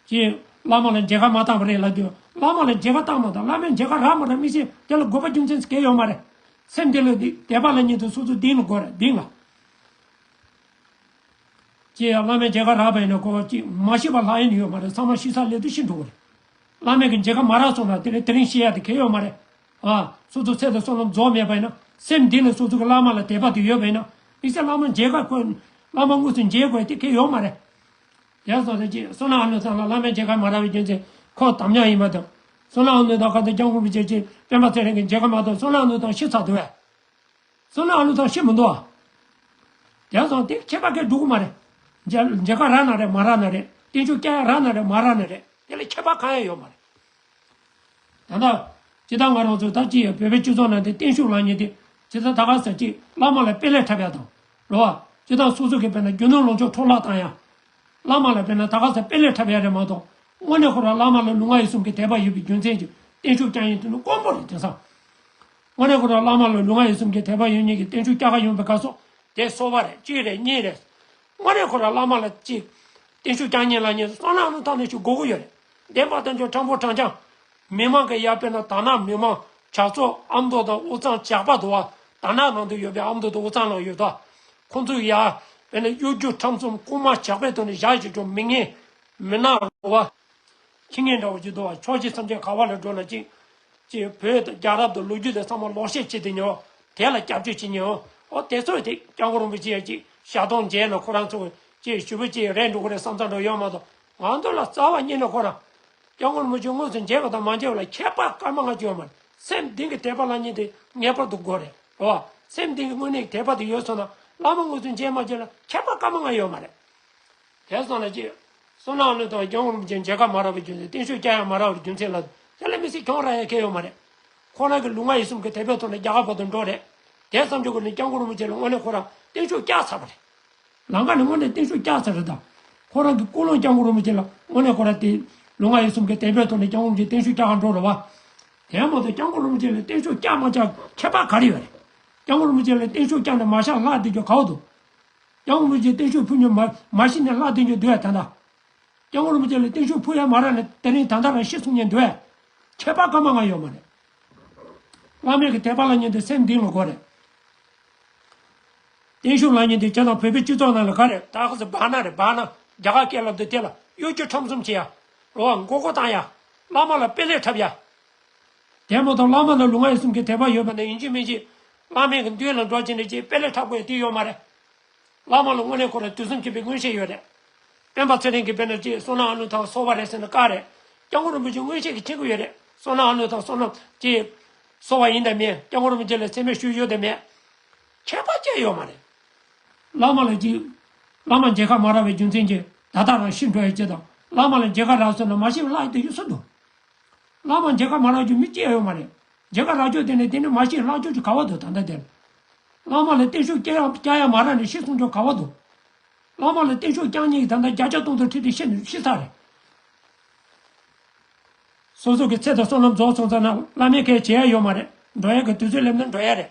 ཀྱེ། བླ་མ་ལ་མཇལ་ཁ་མ་བཏང་བ་རེད་ལབ་དུས་བླ་མ་ལ་མཇལ་ཁ་བཏང་མ་ཐག་བླ་མས་མཇལ་ཁ་རག་མ་རག་མི་ཤེས་དེ་ལ་དགོས་པ་རྒྱུ་མཚན་ཚིག་གེ་ཡོད་མ་རེད། སེམས་དེ་ལ་དད་པ་ལ་ཉིད་དུ་སོ་སོ་གདིང་ལ་དགོས་རེད་གདིང་ལ། ཀྱེ། བླ་མས་མཇལ་ཁ་རག་པ་ཡིན་ན་གོ་ཅི། མ་ཤེས་པ་ལྷག་ཡིན་ཡོད་མ་རེད་ཚང་མ་ཤེས་ས་ལས་དུ་ཤི་འགྲོ་གི་རེད། བླ་མས་གི་མཇལ་ཁ་མ་རག་སོང་ན་དེ་ལས་དེ་རིང་ཤེས་ཡ་དེ་གེ་ཡོད་མ་རེད། ཨ། སོ་སོའི་ཚད་དང་སྲོག་ལམ་རྫོགས་མེད་པས་ན། སེམས་འདི་ནི་སོ་སོ་གི་བླ་མ་ལ་དད་པ་དེ་ཡོད་པས་ན། དམིགས་བསལ་བླ་མ་མཇལ་ཁ་དཀོན། བླ་མ་དངོས་སུ་མཇལ་དགོས་དེ་གལ་ཡོད་མ་རེད། ཡང་སོ་སོ་ཅིག། སོ་ནའང་ལོ་ཙཱ་ལ་བླ་མས་མཇལ་ཁ་མ་རག་པའི་རྒྱུ་མཚན། ཁོ་དམ་ཉམས་ཡིན་པ་དང། སོ་ནའང་ལོ་ཙཱ་ཁ་དང་རྐྱང་ཁུང་བུ་ཅན་གྱི་སྤེན་པ་ཚེ་རིང་གིས་མཇལ་ཁ་མ་གཏོགས་སོ་ནའང་ལོ་ཙཱ་ཤི་ཚར་འདུག་བས། སོ་ནའང་ལོ་ཙཱ་ཤི་མི་འདུག་ཨ། ཡང་སོ་དེ་ཁྱད་པར་གལ་འགྲོ་གི་མ་རེད། མཇལ་ཁ་རག་ན་རེད་མ་རག་ན་རེད། བསྟན་བཅོས་སྐྱ་ཡག་རག་ན་རེད་མ་རག་ན་རེད། དེ་ལ་ཁྱད་པར་གང་ཡང་ཡོད་མ་རེད། ད་ལྟ། ཇི་ལྟར་ང་རང་ཚོ་དག་ཅི་ཡང་བོད་པའི་སྤྱི་ཚོགས་ནང་དུ་བརྟན་བཞུགས་ལངས་ཉིན་དེ་ཇི་ལྟར་ད་ག་ཟེར་ཅིག་བླ་མ་ལ་དཔེ་ལས་འཁྲབ་ཡག་དང། རོ་བ། ཅི་ལྟར་སོ་སོ་གིས་དཔེར་ན་རྒྱུ་ནོར་ལོངས་སྤྱོད་འཕྲོག་བརླག་བཏང་ཡང། བླ་མ་ལ་དཔེར་ན་ད་ག་ཟེར་དཔེ་ལས་འཁྲབ་ཡག་རེད་མ་གཏོགས། དངོས་གནས་ཁོ་རང་བླ་མ་ལ་ལུས་ངག་ཡིད་གསུམ་གྱི་དད་པ་ཡོད་པའི་རྒྱུ་མཚན་གྱིས་བརྟན་བཞུགས་བསྐྱངས་ཡིན་དེ་ནི་དཀོན་པོ་རེད་དེང་སང། དངོས་གནས་ཁོ་རང་བླ་མ་ལ་ལུས་ངག་ཡིད་གསུམ་གྱི་དད་པ་ཡོད་ཉིན་གྱི་བརྟན་བཞུགས་བསྐྱངས་ཁ་ཡོང་བའི་དགའ་སོ། དེ་གསོལ་བ་རེད་གཅིག་རེད་གཉིས་རེད། སྔོན་རས་ཁོ་ར་བླ་མ་ལ་གཅིག། བརྟན་བཞུགས་བསྐྱངས་ཉིན་ལ་ཉེ། སོ་ནམ་ལུང་ཐང་ནས་ཆུ་འགོ་དགུ་ཡོད། བདེན་པ་དོན་འབྱུང་ཁྲ་འབོ་བྲང་བྱང། མི་དམངས་ཀྱི་ཡར་སྤེལ་ན་དར་ནག་མི་དམངས་ཇག་ཚོགས་ཨ་མདོ་དང་དབུ་གཙང་ཇག་པ་དུ་བ་དར་ནག་ནང་དུ་ཡོད་པས་ཨ་མདོ་དང་དབུ་གཙང་ནང་ཡོད། ཁོང་ཚོའི་ཡར་སྤེལ་ན་གཡོ་སྒྱུ་ཁྲམ་གསུམ་རྐུན་མ་ཇག་པའི་དོན་དུ་བཞག་ཅིག་ཀྱང་མི་ངན་མི་ནག་དུ་བ་ཁྱི་ངན་འདྲ་བ་གཅིག་དུ་བ་ཕྱོགས་གཅིག་མཚམས་གཅིག་ག་བ་ལ་འགྲོ་ན་གཅིག་ཅེས་བོད་དང་རྒྱ་རབ་དང་ལོ་རྒྱུས་དང་ཚང་མ་ལོག་བཤད་བྱེད་དོན་ཡང་དེ་ལ་སྐྱབས་བཅོལ་བྱེད་ཉེ་འོ་དེ་ཚོའི་དེ་སྐྱབས་མགོན་རིན་པོ་ཆེ་ཅིག་ཞག་སྟོང་མཇལ་ན་ཁོ་རང་ཚོ་ཅེས་ཞུ་བོད་ཅེས་རེད་འགྲོ་གི་རེད་བསམ་ཚར་འགྲོ་ཡོད་མ་གཏོགས་ང་ཚོ་ལ་རྩ་བ་རྙེད་ན་ཁོ་རང། སྐྱབས་མགོན་རིན་པོ་ཆེ་དངོས་སུ་མཇལ་བ་དང་མ་མཇལ་བ་ལ་ཁྱད་པར་སྐར་མ་ལྔ་བཅུ་ཡོད་མ་རེད་སེམས་གཏིང་གི་དད་པ་ལ་ཉིན་དེ་ངེས་པར་དུ་དགོས་རེད་རེད་བ། སེམས་གཏིང་གི་དངོས་གནས་ཀྱི་དད་པ་དེ་ཡོད་སོང་ན་བླ་མ་དངོས་སུ་མཇལ་མ་མཇལ་ལ་ཁྱད་པར་སྐར་མ་ལྔ་ཡོད་མ་རེད། དེང་སང་ལ་ཅི། སོ་ནག་ལོས་དང་གྱང་རུམ་ཅན་མཇལ་ཁ་མ་རག་པའི་རྒྱུ་མཚན་བརྟན་བཞུགས་བསྐྱལ་ཡང་མ་རག་པའི་རྒྱུ་མཚན་ལ་ལ་ལས་མི་སྲིད་གྱང་རག་ཡ་ཁེ་ཡོད་མ་རེད། ཁོ་རང་གི་ལུས་ངག་ཡིད་གསུམ་གི་དད་པའི་ཐོག་ནས་རྒྱ་གར་བར་དུ་འགྲོ་རེད། དེ་བསམ་ཆོག་གི་ནི་གྱང་གུ་རུམ་ཅན་ལ་དངོས་གནས་ཁོ་རང་བརྟན་བཞུགས་བསྐྱལ་ཚར་བ་རེད། ལང་ཀ་ནི་དངོས་གནས་བརྟན་བཞུགས་བསྐྱལ་ཚར་རེད་ད། ཁོ་རང་གི་ཀུན་སློང་གྱང་གུ་རུམ་ཅན་ལ་དངོས་གནས་ཁོ་རང་དེ། ལུས་ངག་ཡིད་གསུམ་གི་དད་པའི་ཐོག་ནས་གྱང་རུམ་ཅན་བརྟན་བཞུགས་བསྐྱལ་ག་འགྲོ་རུ་བ། དེའི་མ་ཐོག་གྱང་གུ་རུམ་ཅན་ལ་བརྟན་བཞུགས་བསྐྱལ་མ་བསྐྱལ་ཁྱད་པར་ག་རེ་ཡོད་རེད། གྱང་གུ་རུམ་ཅན་ལ་བརྟན་བཞུགས་བསྐྱལ་ནས་མ་བཞག་ལྷག་འདི་རྒྱུ་ག་འོག་ཏུ། སྐྱབས་མགོན་རིན་ཆེན་བསྟན་ཆོས་ཕུ་ཉོན་མར་མ་ཤི་ནས་སླར་དེང་ཆོས་འདུལ་བ་དང། སྐྱབས་མགོན་རིན་པོ་ཆེ་ལས་བསྟན་ཆོས་ཕུ་ཡར་མ་རག་ནས་དེ་རིང་དང་ཐ་ར་ཤི་གསུང་ཉན་འདུལ་བས། ཁྱད་པར་སྐར་མ་ལྔ་ཡོད་མ་རེད། བླ་མེད་ཀྱི་དད་པ་ལ་ཉན་དུས་སེམས་གདིང་ལ་གོ་རེད། བསྟན་ཆོས་ལ་ཉན་དུས་ཁྱེད་དང་བོད་པའི་སྤྱི་ཚོགས་ནང་ལ་ག་རེད་ད་ཧ་ཟེར་བག་ན་རེད་བག་ན་རྒྱ་གར་སྐད་ལབ་འདུག་དེ་ལ་གཡོ་སྒྱུ་ཁྲམ་གསུམ་བྱེད་ཡ། ལོ་བ་མགོ་སྐོར་བཏང་ཡ། བླ་མ་ལ་དཔེ་ལེགས་འཁྲབ་ཡ། རྒྱལ་མོ་དང་བླ་མ་ལ་ལུས་ངག་ཡིད་གསུམ་གྱི་དད་པ་ཡོད་པ་ནི་ཡིན་གཅིག་མིན་གཅིག། བླ་མེད་ཀྱི་མདུན་ལ་འགྲོ་གཅིག་འདྲེ་གཅིག་དཔེ་ལས་ཕྲ་བའི་དུས་ཡོད་མ་རེད། བླ་མ་ལ་དངོས་གནས་ཁོ་རང་དུས་གསུམ་མཁྱེན་པའི་མངོན་ཤེས་ཡོད་རེད། སྤེན་པ་ཚེ་རིང་གིས་དཔེར་ན་ཅིག་བསོད་ནམས་ཨ་ནུ་དང་སོ་བ་རེད་ཟེར་ན་དཀའ་རེད། སྐྱབས་མགོན་རིན་པོ་ཆེ་མངོན་ཤེས་ཀྱིས་མཁྱེན་གྱི་ཡོད་རེད་བསོད་ནམས་ཨ་ནུ་དང་བསོད་ནམས་ཅིག། སོ་བ་ཡིན་དང་མིན་སྐྱབས་མགོན་རིན་པོ་ཆེ་ལ་ཚད་མའི་ཤུལ་ཡོད་དང་མེད། ཁྱད་པར་ཅན་ཡོད་མ་རེད། བླ་མ་ལ་གཅིག། བླ་མ་མཇལ་ཁ་མ་རག་པའི་རྒྱུ་མཚན་གྱིས་ད་ལྟ་རང་ཤི་འགྲོ་ཡི་གཅིག་དང་བླ་མ་ལ་མཇལ་ཁ་རག་ཟེར་ན་མ་ཤི་བའི་ལྷ་ཡི་དུས་ཡོད་སུ་འདུག། བླ་མ་འདི་ག་མ་ལགས་རྒྱུ་མི་སྐྱེ་ཡོད་མ་རེད། འདི་ག་ར་རྒྱོ་དེ་ནས་དེ་ནས་མ་ཤེས་ལགས་རྒྱོ་རྒྱུ་ག་བ་དོ་ད་འདྲ་དེར། བླ་མ་ལ་བརྟན་བཞུགས་སྐྱ་ཡ་སྐྱ་ཡ་མ་ར་ནས་ཤི་སོང་རྒྱོ་ག་བ་དོ། བླ་མ་ལ་བརྟན་བཞུགས་སྐྱང་ཉིད་ཀྱི་ད་འདྲ་རྒྱ་ལྕགས་སྟོང་དུ་ཁྲིད་དེ་ཤི་ནས་ཤི་ཚར་རེད། སོ་སོ་གི་ཚེ་དང་བསོད་ནམས་རྫོགས་སོང་ཙང་ན་བླ་མའི་ཁའི་བྱེད་ཡ་ཡོད་མ་རེད་འགྲོ་ཡ་གི་དུས་ཚོད་སླེབས་ན་འགྲོ་ཡ་རེད།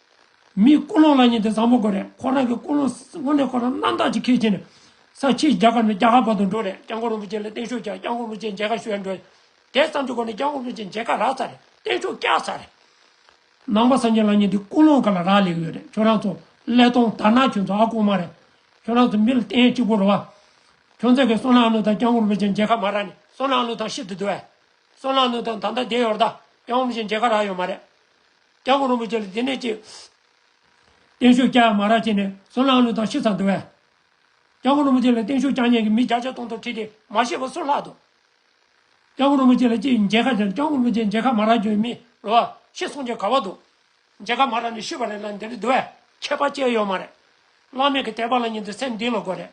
མིའི་ཀུན་སློང་ལ་ཉན་ཏེ་བཟང་པོ་དགོས་རེད་ཁོ་རང་གི་ཀུན་སློང་དངོས་གནས་ཁོ་རང་རྣམ་དག་ཅིག་ཁས་འཆེ་ནས། ས་ཕྱིའི་རྒྱ་གར་ནས་རྒྱ་གར་བར་དུ་འགྲོ་རེད་སྐྱབས་མགོན་རིན་པོ་ཆེ་ལ་བརྟན་བཞུགས་བྱ་སྐྱབས་མགོན་རིན་པོ་ཆེ་མཇལ་ཁ་ཞུ་ཡ་འགྲོ། དེ་ཙམ་གྱི་སྒོ་ནས་སྐྱབས་མགོན་རིན་པོ་ཆེ་མཇལ་ཁ་རག་ཚར་རེད་བརྟན་བཞུགས་བསྐྱལ་ཚར་རེད། ནང་པ་སངས་རྒྱས་ལ་ཉན་ཏེ་ཀུན་སློང་ག་ལ་རག་ལས་ཡོད་རེད་ཁྱོད་རང་ཚོ་ཀླད་སྟོང་དར་ནག་ཁྱོད་ཚོ་ཨ་ཀོ་མ་རེད། ཁྱོད་རང་ཚོ་མི་ལ་བརྟེན་གཅིག་པོ་རུ་བ། ཁྱོད་ཚོ་གིས་བསོད་ནམས་ཀླུ་དང་སྐྱབས་མགོན་རིན་པོ་ཆེ་མཇལ་ཁ་མ་རག་ནས་བསོད་ནམས་ཀླུ་དང་ཤི་ཏུ་འདུ་བས། བསོད་ནམས་ཀླུ་དང་ད་ལྟ་བསྡད་ཡོད་ར་ད་སྐྱབས་མགོན་རིན་པོ་ཆེ་མཇལ་ཁ་རག་ཡོད་མ་རེད། སྐྱབས་དགོངས་རིན་པོ་ཆེ་ལ་དེ་ནས་ཅི། བརྟན་བཞུགས་སྐྱ་ཡང་མ་རག་བྱས་ནས་སུ་ལང་ལུགས་དང་ཤི་ཚང་འདུལ་བས། སྐྱབས་དགོངས་རིན་པོ་ཆེ་ལ་བརྟན་བཞུགས་སྐྱ་ཉན་གྱི་མི་བརྒྱ་ཆ་སྟོང་ཐོག་ཁྲིད་དེ་མ་ཤེས་པ་སུ་ལྷག་དུ། སྐྱབས་དགོངས་རིན་པོ་ཆེ་ལ་ཅི་མཇལ་ཁ་བྱས་ན་སྐྱབས་དགོངས་རིན་པོ་ཆེ་མཇལ་ཁ་མ་རག་གྱོན་མི་རུ་བ་ཤི་སོང་ཆེ་ག་བ་འདུག། མཇལ་ཁ་མ་རག་ནས་ཤི་བ་རེད་ལ་འདི་རུ་འདུལ་བས་ཁྱད་པ་ཅི་ཡོད་མ་རེད། བླ་མེད་ཀྱི་དད་པ་ལ་ཉིད་དུ་སེམས་འདི་ལ་དགོས་རེད།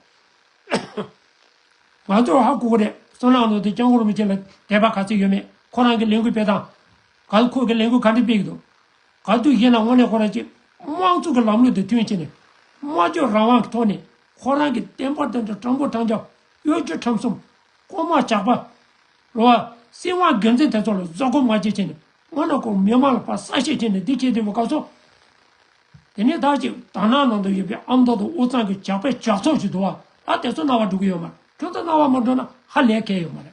ང་ཚོར་ཧ་གོ་གི་རེད་སུ་ལང་ལུགས་དང་སྐྱབས་དགོངས་རིན་པོ་ཆེ་ལ་དད་པ་ག་ཚོད་ཡོད་མེད་ཁོ་རང་གིས་ལས་འགུལ་སྤེལ་སྟངས། ག་ལ་ཁོང་གི་ལས་འགུལ་ག་འདྲའི་སྤེལ་གི་འདུག་ག་དུས་གཞན་ལ་དངོས་གནས་ཁོ་རང་ཀྱི་དམངས་གཙོ་གི་ལམ་ལུགས་དེ་མཐུན་ཕྱིན་ནས། སྨྲ་བརྗོད་རང་དབང་གི་ཐོག་ནས་ཁོ་རང་གི་བསྟན་པ་དོན་དུ་སྤྲང་པོ་འཕྲང་བརྒྱག་གཡོ་སྒྱུ་ཁྲམ་གསུམ། རྐུན་མ་ཇག་པ། ལོ་བ། སྲིད་དབང་སྒེར་འཛིན་དེ་ཚོ་ལ་བཟོད་སྒོམ་མ་བྱེད་ཕྱིན་ནས་སྔོན་ནང་ཁོང་མི་དམངས་ལ་ཕ་ས་བཤད་ཕྱིན་ནས་འདི་བྱེད་འདི་བྱེད་ག་ཚོད། དེ་ནས་ད་ཅིག་དར་ནག་ནང་དུ་ཡོད་པའི་ཨ་མདོ་དང་འུ་ཚང་གི་ཇག་པའི་ཇག་ཚོགས་ཞིག་འདུག་བ་ལ་དེ་ཚོ་རྣ་བ་འགྲོ་གི་ཡོད་མ་རེད་ཁྱོད་ཚོ་རྣ་བ་མ་འགྲོ་ན་ཧ་ལས་གལ་ཡོད་མ་རེད།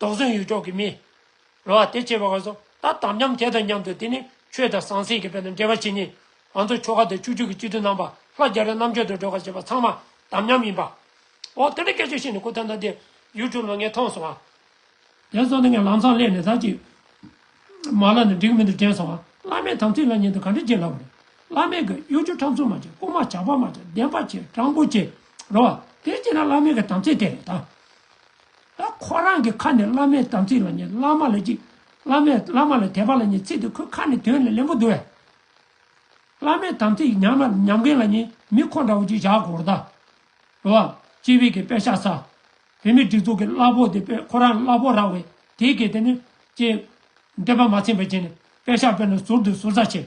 དོགས་ཟོན་ཡུལ་ཕྱོགས་ཀྱི་མི། རེ་བ་དེ་བྱེད་པ་ག་སོང་ད་དམ་ཉམས་དེ་དང་མཉམ་དུ་དེ་ནི་ཆོས་དང་ཟང་ཟིང་གི་བོད་དོན་འབྲེལ་བ་བྱེད་ཉིན་ང་ཚོ་ཆོལ་ཁ་དང་ཆོས་བརྒྱུད་ཀྱི་སྤྱི་འཐུས་རྣམ་པ་ལྷ་རྒྱ་རི་རྣམ་དཔྱོད་དུ་སྒྲོལ་དཀར་བྱེད་པ་ཚང་མ་དམ་ཉམས་ཡིན་པའོ། དེ་འདྲའི་སྐད་ཆ་བཤད་ནས་ཁུ་ཐང་ཐང་དེ YouTube ལ་ངས་མཐོང་སོང་ཨ། དེ་སོང་ནས་ངས་ལམ་སང་སླེབས་ནས་ད་ཅིག་མ་ལ་ནས་འགྲིག་མི་འདུག་དྲན་སོང་ཨ་བླ་མས་དམ་ཚིག་ལ་ཉན་དུ་ག་འདྲ་བྱེད་སླ་བོ་རེད་བླ་མས་གི་གཡོ་སྒྱུ་ཁྲམ་གསུམ་མ་བྱེད་རྐུ་མ་བྱ་ཕག་མ་བྱེད་བདེན་པ་བྱེད་སྤྲང་པོ་བྱེད་རེད་བ་དེ་བྱེད་ན་བླ་མའི་གི་དམ་ཚིག་དེ་རེད་ད། ད་ཁོ་རང་གི་ཁ་ནས་བླ་མའི་དམ་ཚིག་ལ་ཉེ་བླ་མ་ལ་གཅིག་བླ་མས་བླ་མ་ལ་དད་པ་ལ་ཉེ་ཚིག་དེ་ཁོའི་ཁ་ནས་དོན་ལས་ལེན་པོ་འདུག་བས། བླ་མའི་དམ་ཚིག་ཉམས་ན་ཉམས་མཁན་ལ་ཉེ་མི་ཁོ་འདྲ་བོ་གཅིག་བཞག་གོ་རྟ། འགྲོ་བ། སྤྱི་བེ་གི་དཔེ་ཤ་ཟ། བོད་མི་སྒྲིག་འཛུགས་ཀྱི་བླ་ཕོག་དེ་དཔེ་ཁོ་རང་བླ་ཕོག་རག་བས་དེའི་གེ་དེ་ནི། ཅེས། འདོད་པ་མ་ཚིམ་པའི་རྗེས་ནས་དཔེ་ཤ་སྤེལ་ན་ཟུར་དུ་ཟུར་ཟ་བྱེད།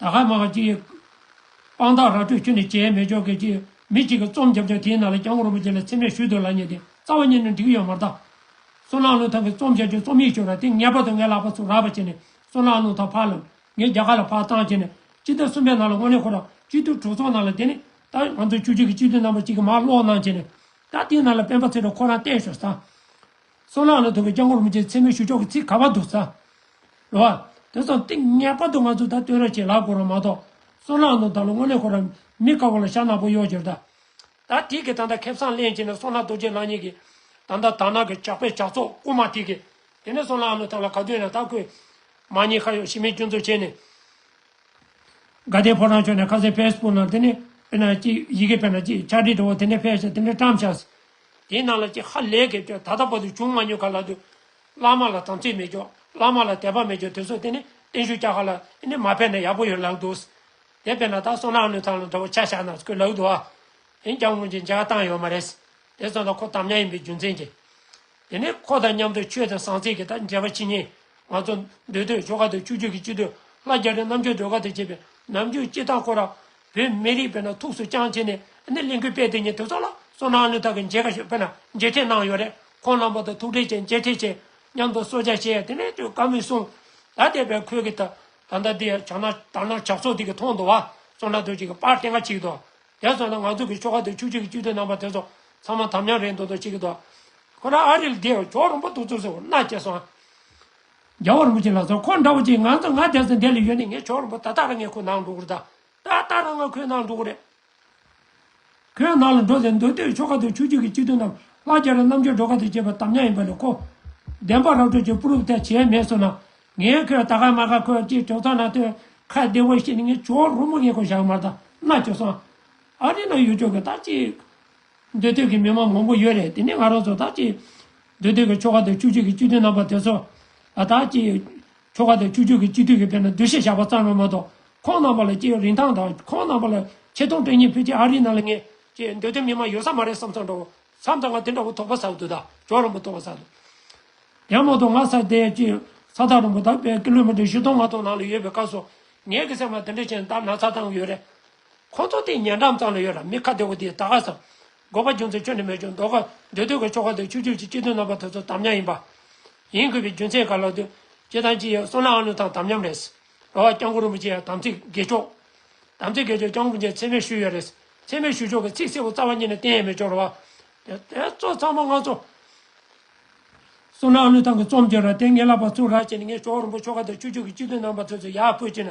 ད་ག་མ་ག་ཅིག། དཔང་རྟགས་ར་སྤྲོད་ཁྱོད་ནས་བྱས་མེད་ཆོག་གེ་ཅིག། མི་གཅིག་གི་རྩོམ་རྒྱབ་ཀྱང་དེའི་ནང་ལ་གྱང་རོང་པོ་ཅན་ལ་འཚེ་མེད་ཞུ་དོན་ལ་ཉེ་སྟེ་རྩ་བ་ཉིད་ནས་འགྲིག་ཡོད་མ་རྟ། སོ་ནག་ལུང་ཐང་གི་རྩོམ་བྱ་རྒྱུ་རྩོམ་ཡིག་ཤོར་ར་དེ་ངེས་པར་དུ་ངའི་ལག་པ་སུ་རག་པ་བྱས་ནས་སོ་ནག་ལུང་ཐང་ཕར་ལམ་ངའི་རྒྱ་གར་ལ་ཕར་བཏང་བྱས་ནས་སྤྱི་ཟླ་གསུམ་པའི་ནང་ལ་དངོས་གནས་ཁོ་རང་སྤྱི་འཐུས་དྲུག་ཚོགས་ནང་ལ་དེ་ནས་ད་ང་ཚོ་བཅུ་གཅིག་གི་སྤྱི་འཐུས་རྣམ་པ་གཅིག་གི་མར་ཀློག་གནང་བྱས་ནས་ད་དེའི་ནང་ལ་སྤེན་པ་ཚེ་རིང་ཁོ་རང་བསྟན་ཞོར་ཟ། གསོ་ལག་ལ་ཐུག་པའི་སྐྱབས་འཁོར་མི་ཆེན་ཚད་མའི་ཞུ་ཕྱོགས་ཀྱི་ཚིག་ག་པར་འདུག་ས་རེད། བ་དེ་སོགས་ཏིང་ངེ་པར་དུ་ང་ཚོས་ད་ལྟོས་ར་བྱེད་ལག་འཁོར་རམ་མ་གཏོགས་གསོ་ལག་ནང་ད་ལོ་སྔོན་ལས་འཁོར་རམ་མི་དཀར་བོ་ལ་ཤ་ནག་པོ་གཡོག་གྱུར་ད། ད་ཐིག་གི་ད་ལྟ་ཁེབས་སངས་ལེན་བྱས་ནས་གསོ་ལག་རྡོ་རྗེ་ལགས་གཉིས་ཀྱིས་ད་ལྟ་དར་ནག་གི་ཇག་པས་ཇག་ཚོགས་བཀུག་མ་ཐིག་གི་དེ་ནས་གསོ་ལག་ནང་ད་ལ་ག་དུས་ན་ད་ཁོས་མ་ཉེས་ཁ་ཡོག་ཞི་མི་སྐྱོན་འཚོལ་བྱས་ནས། དགའ་ལྡན་ཕོ་བྲང་ཕྱོགས་ནས་ཁ་གསལ་ཕེས་སྤུག་ནང་དེ་ནས་དཔེར་ན་གཅིག་ཡི་གེ་དཔེར་ན་གཅིག་ཕྱག་བྲིས་འདྲ་བོ་དེ་འདྲ་ཕེབས་ཤག་དེ་འདྲ་བཀྲམ་ཤག་དེའི་ནང་ལ་ཀྱེ་ཧ་ལས་གེ་སྤྱོད་ད་ལྟ་བར་དུ་བྱུང་མ་མྱོང་ག་ལ་དུས། བླ་མ་ལ་དམ་ཚིག་མེད་ཀྱོ་བླ་མ་ལ་དད་པ་མེད་ཀྱོ་དེ་ཚོ་དེ་ནི་བརྟན་བཞུགས་བཅའ་ག་ལ་ནི་མ་ཕེབས་ན་ཡག་པོ་ཡོད་ལགས་འདུག། དེ་ཕེབས་ན་ད་སོང་ནག་ནུས་ཚང་ལ་འདྲ་བོ་ཆ་ཞག་ནག་ཚུགས་ལགས་འདུག་ཨ། འོན་ཀྱང་སྔོན་གྱི་འཇལ་བ་བཏང་ཡོད་མ་རེད། དེ་ཚོ་དང་ཁོ་དམ་ཉམས་ཡིན་པའི་རྒྱུ་མཚན་གྱིས། དེ་ནས་ཁོ་དང་མཉམ་དུ་ཆོས་དང་ཟང་ཟིང་གི་དང་འཇལ་བ་ཕྱི་ཉིན། ང་ཚོ་འདུས་སྡོད་ཆོ་ག་དང་ཆུ་རྒྱུན་གྱི་སྤྱི་འཐུས་ལྷ་རྒྱ་རི་རྣམ་རྒྱལ་སྒྲོལ་དཀར་དང་བཅས་པས་ནམ་རྒྱུན་སྐྱིད་ཐང་སྐོར་ར་བོད་མི་རིགས་དཔེར་ན་ཐུགས་སུ་བཅངས་བྱས་ནས་ནི་གླིང་ཁུལ་དཔལ་ལྡན་གཉིས་ཐེབས་ཚོགས་ལ་སོ་ནང་བློན་ཐག་གི་མཇལ་ཁ་ཞུ་དཔེར་ན་མཇལ་འཕྲད་གནང་ཡོད་རེད་ཁོང་རྣམ་པ་དང་ཐུགས་འཕྲད་བྱས་མཇལ་འཕྲད་བྱས་མཉམ་དུ་གསོལ་ཇག་བྱས་དེ་ནས་དུས་སྐབས་མི་གསུང་ད་དེ་བས་ཁོས་གི་ད་ད་ད་དེ་ཡང་ཇག་ན་དར་ནག་ཇག་ཚོགས་དེ་གི་ཐོག་འདུ་བ་སོ་ན་དུ་ཅིག་གི་པར་སྟེང་ཁ་ཅིག་འདུ་དེ་ཚོ་ན་ང་ཚོ་གི་ཆོལ་ཁ་དུ་ཆུ་ཆུ་གི་བཅུ་དུས་རྣམ་པ་དེ་ཚོ་ཚང་མ་དམ་ཉམས་རེད་འདུ་འདུ་ཅིག་གི་འདུ་ཁོ་ན་ཨ་རིལ་དེ་ཡང་ཇོག་རིང་པོ་འདུག་ཚུགས་སུ་སྣ་བསྐྱེལ་སོང། རྒྱལ་བ་རིན་པོ་ཆེ་ལ་སོགས་འཁོར་འདྲ་བོ་ཅིག་ང་ཚོ་ང་རྒྱལ་སོ་འདས་ལ་ཡོད་ནས་ངས་ཆོག་རིན་པོ་ད་ལྟ་རང་ངས་ཁོའི་ནང་འགྲོ་གི་རེད་ད་ལྟ་རང་ང་ཁོའི་ནང་འགྲོ་གི་རེད། ཁོའི་ནང་ལ་འགྲོ་ཟེར་མདོ་སྟོད་ཆོལ་ཁ་དང་ཆོས་རྒྱུད་ཀྱི་སྤྱི་དོན་རྣམས་ལྷ་རྒྱལ་རང་རྣམ་དཔྱོད་འགྲོ་ཁ་དང་བཅས་པའི་དམ་ཉམས་ཡིན་པ་ལས་ཁོ། བདེན་པ་རབ་འཕྲོ་ཆོས་སྤུ་རུབ་ཐལ་བྱས་མེད་སོང་ན། ངས་ཁོའི་ད་ག་མ་ག་ཁོའི་སྤྱིར་བྲོ་ཚང་ན་དོན་ཁ་བདེ་བོ་བཤད་ནས་ངས་ཆོག་རིན་པོ་ངས་ཁོའི་ཞག་མར་ད་ནག་བྱོ་སོང། ཨ་རི་ན་ཡོད་ཆོག་གི་ད་ཅིག། འདོད་འདོད་ཀྱི་མི་མང་མང་པོ་ཡོད་རེད་དེ་ནས་ང་རང་ཚོ་དག་ཅིག་འདོད་འདོད་ཀྱི་ཆོ་ག་དང་བཅུ་གཅིག་གི་སྤྱི་འཐུས་རྣམ་པ་དེ་ཚོ་དག་ཅིག་ཆོ་ག་དང་བཅུ་གཅིག་གི་སྤྱི་འཐུས་ཀྱི་དཔེ་ན་འདུ་ཤེས་བཞག་པ་ཙམ་ཡང་མ་གཏོགས་ཁོང་རྣམ་པ་ལ་ཅི་ཡང་རིན་ཐང་དང་ཁོང་རྣམ་པ་ལ་ཆེ་མཐོང་སྤྲད་ཉེན་ཕུད་ཅི་ཨ་རིའི་ནང་ལ་ངས་ཅིག་འདོད་འདོད་མི་མང་ཡོད་ས་མ་རེད་བསམ་ཚང་འདྲ་བོ་བསམ་ཚང་ང་དེ་འདྲ་བོ་དོགས་པ་ཟག་འདུག་ད་ཇོ་རིན་པོ་དོགས་པ་ཟག་འདུག་ཡང་མ་གཏོགས་ང་ས་དེ་ཅིག་ས་ཐག་རིང་པོ་དག་པས་ཀི་ལོ་མི་ཏེར་བཞི་སྟོང་ལྔ་སྟོང་ནང་ལ་ཡོད་པའི་སྐབས་སུ་ངས་ཀི་སེམས་པ་འདི་འདྲ་ཅན་དག་ན་ཚ་དང་ཡོད་རེད་ཁོང་ཚོ་དེ་ཉེ་འགྲམ་ཙམ་ལ་ཡོད་ལ་མི་ཁ་བདེ་བོ་དེ་ད་ག་སོང། དགོས་པ་རྒྱུ་མཚན་ཁྱོན་ནས་མེད་ཀྱང་འདོད་དགའ་འདོད་འདོད་ཀྱི་ཆོ་ག་དང་ཆུ་རྒྱུས་ཀྱི་སྐྱིད་སྡུག་རྣམ་པ་དེ་ཚོ་དམ་ཉམས་ཡིན་པ། ཡིན་དགོས་པའི་རྒྱུ་མཚན་ག་ལ་ལྟོས། སྐྱིད་དང་སྐྱིད་ཡོད་སོང་ནའང་ལུས་དང་དམ་ཉམས་རེད། རོ་བ་རྐྱང་གུ་རུ་མི་སྐྱེ་ཡང་དམ་ཚིག་དགེ་ཆོག། དམ་ཚིག་དགེ་ཆོག་རྐྱང་གུ་རུ་མཇལ་ཚེ་མེད་ཞུ་ཡོད་རེད། ཚེ་མེད་ཞུ་ཆོག་གི་ཚིག་གསལ་བོ་རྩ་བ་ཉིད་ནས་བསྟན་ཡས་མེད་ཅོག་རོ་བ། དེ་ཚོ་ཚང་མ་ང་ཚོ། སོང་ནའང་ལུས་དང་གི་རྩོམ་བྱོས་ར་དེ་ངེད་ལ་བ་ཚུགས་ར་བྱས་ནས་ངས་ཞོགས་རིན་པོ་ཆོ་ག་དང་ཆུ་རྒྱུས་ཀྱི་སྐྱིད་སྡུག་རྣམ་པ་དེ་ཚོ་ཡག་པོས་བྱས་ན།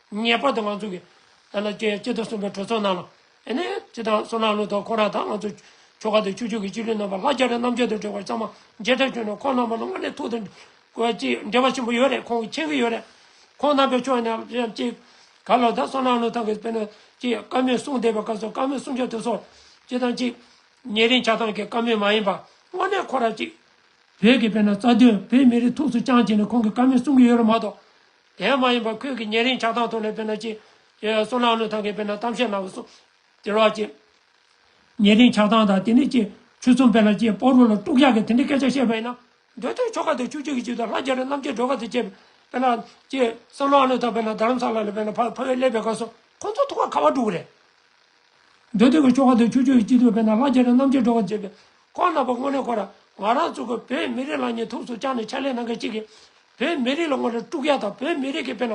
ངེས་པར་དུ་ང་ཚོ་གི་ཐ་ན་སྐྱེ་སྐྱེ་སྟོབས་གསུམ་པའི་གྲོས་ཚོགས་ནང་ལ་ཨེ་ནས་ཅི་དང་སོ་ནང་ལུགས་དང་ཁོ་རང་དང་ང་ཚོ་ཁྱོ་ག་དང་ཁྱོ་ཁྱོ་གི་སྤྱི་ལུས་རྣམ་པར་ལྷ་རྒྱ་རི་རྣམ་རྒྱལ་དུ་སྒྲོལ་བར་ཚང་མ་མཇལ་འཕྲད་བྱུང་ནས་ཁོང་རྣམ་པ་ལ་སྔར་ནས་ཐུག་དང་གོ་ཅི་འབྲེལ་བ་ཆེན་པོ་ཡོད་རེད་ཁོང་གི་མཁྱེན་གི་ཡོད་རེད་ཁོང་རྣམ་པའི་ཕྱོགས་ནས་ལན་གཅིག་ག་ལོ་དང་སོ་ནང་ལུགས་ཐང་གི་དཔེར་ན་ཅི་བཀའ་མོལ་གསུང་བསྡད་པའི་སྐབས་སུ་བཀའ་མོལ་གསུང་བྱ་དུས་སོ་ཅི་དང་ཅི། ཉེ་རིང་ཆ་ཚང་གི་བཀའ་མོལ་མ་ཡིན་པ་དངོས་གནས་ཁོ་རང་ཅི། བོད་ཀྱི་དཔེར་ན་རྩ་དོན་བོད་མི་རིགས་ཐུགས་སུ་བཅང་བྱས་ནས་ཁོང་གི་བཀའ་མོལ་གསུང་གི་ཡོད་རེད་མ་གཏོགས་དེའང་མ་ཡིན་པར་ཁོས་ཀྱི་ཉེ་རིང་ཆགས་སྡང་ཐོག་ནས་དཔེར་ན་ཅི། སོ་ནག་ནུས་ཐང་གིས་དཔེར་ན་གཏམ་བཤད་གནང་བ་སོགས། དེ་རོགས་ཅི། ཉེ་རིང་ཆགས་སྡང་དང་དེ་ནས་ཅི། ཆོས་གསུམ་དཔེར་ན་ཅི་སྤོ་རུ་ལ་དཀྲུགས་ཤག་གིས་དེ་འདྲའི་སྐད་ཆ་བཤད་པ་ཡིན་ན། འདོད་དོན་ཆོ་ག་དང་ཆོས་བརྒྱུད་ཀྱི་ཆེད་དུ་ལྷ་རྒྱལ་རི་རྣམ་རྒྱལ་སྒྲོལ་དཀར་དང་བཅས་པས་དཔེར་ན་ཅི། སོ་ནག་ནུས་ཐང་དཔེར་ན་རྡ་རམ་ས་ལ་ལ་དཔེར་ན་ཕ་ཕ་བའི་ཀླད་པའི་སྐབས་སུ་ཁོ་ཚོ་ཐུགས་ཀར་ཁ་བ་དཀྲུགས་པ་རེད། འདོད་དོན་གྱི་ཆོ་ག་དང་ཆོས་བརྒྱུད་ཀྱི་ཆེད་དུ་དཔེར་ན་ལྷ་རྒྱལ་རི་རྣམ་རྒྱལ་སྒྲོལ་དཀར་བཅས་པས། ཁོང་རྣམ་པ་དངོས་གནས་ཁོ་རང་ང་རང་གཙོས་ཀྱི་བོད་མི་རིགས་ལ་ཉེས་ཐུགས་སུ་བཅངས་ནས་ཕྱག་ལས་གནང་མཁན་གཅིག་གིས། བོད་མི་རིགས་ལ་ངོ་དཀྲུག་ཡ་དང་བོད་མི་རིགས་ཀྱི་དཔལ།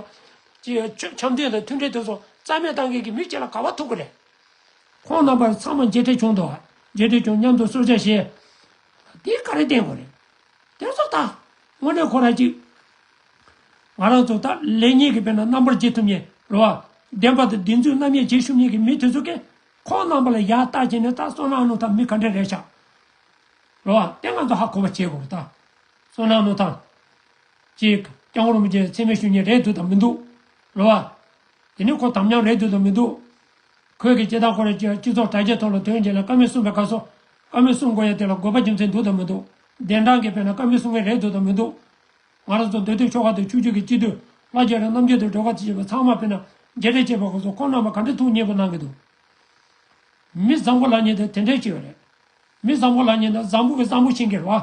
འཆམ་མཐུན་དང་མཐུན་སྒྲིལ་དོན་གསུམ་རྩ་མེད་བཏང་མཁན་གྱི་མི་སྤྱི་ལ་ག་བ་ཐུག་གི་རེད། ཁོང་རྣམ་པར་ཚང་མ་མཇལ་འཕྲད་བྱུང་འདུག་ཨ། མཇལ་འཕྲད་བྱུང་མཉམ་དུ་གསོལ་ཇ་བཞེས། དེ་ག་རེ་བསྟན་དགོས་རེད། དེ་ཚོ་ད། དངོས་གནས་ཁོ་རང་གཅིག། ང་རང་ཚོ་ད་ལེགས་ཉེས་ཀྱི་དཔེ་ན་རྣམ་པར་འབྱེད་ཐུབ་ཉེན་རེད། བདེན་པ་དང་བདེན་རྫུན་རྣམ་དབྱེ་འབྱེད་ཤུབ་ཉེན་གྱི་མི་དེ་ཚོ་ཀྱིས། ཁོང་རྣམ་པ་ལ་ཡག་བལྟ་བྱས་ནས་ད་སོང་ན་ཨ་ནུ་ད་མི་ག་འདྲ་རེད་ཤག། རེད་བ། དེ་ང་ཚོ་ཧ་གོ་བ་བྱེད་དགོས་རེད་ད། སོ་ནག་མོ་དང། གཅིག། རྐྱང་རོང་མོ་བཅས་འཚེ་མེད་ཞུ་ཉེས་རེད་འདུག་དང་མི་འདུག་རོ། བ། དེ་ནི་ཁོ་དམ་ཉམས་རེད་འདུག་དང་མི་འདུག། ཁོས་གི་བྱེད་སྟངས་ཁོ་རེ་སྤྱི་ཚོགས་དྲ་རྒྱའི་ཐོག་ལ་དོན་གྱིས་ལ་ཀ་མེད་གསུངས་པའི་སྐབས་སུ། ཀ་མེད་གསུངས་དགོས་ཡ་དེ་ལ་དགོས་པ་རྒྱུ་མཚན་འདུག་དང་མི་འདུག་གདན་དྲངས་གི་བས་ན་ཀ་མེད་གསུངས་ངེས་རེད་འདུག་དང་མི་འདུག། ང་རང་ཚོ་འདོད་དུས་ཆོ་ག་དང་ཆུ་རྒྱུད་ཀྱི་སྤྱི་འཐུས་ལ་རྒྱ་རི་རྣམ་རྒྱལ་དུ་སྒྲོལ་དཀར་བཅས་པ་ཚང་མ་བས་ན་རྒྱལ་གྲས་བཅས་པ་ཁོང་ཚོ་ཁོང་རྣམས་པ་ག་འདྲ་ཐུགས་མཉེས་པོ་གནང་གི་འདུག། མི་བཟང་པོ་ལགས་ཉིད་དང་དེ་འདྲས་བྱས་པ་རེད། མི་བཟང་པོ་ལགས་ཉིད་ནི་བཟང་པོ་གི་བཟང་པོ་ཕྱིན་གི་རེད་བ།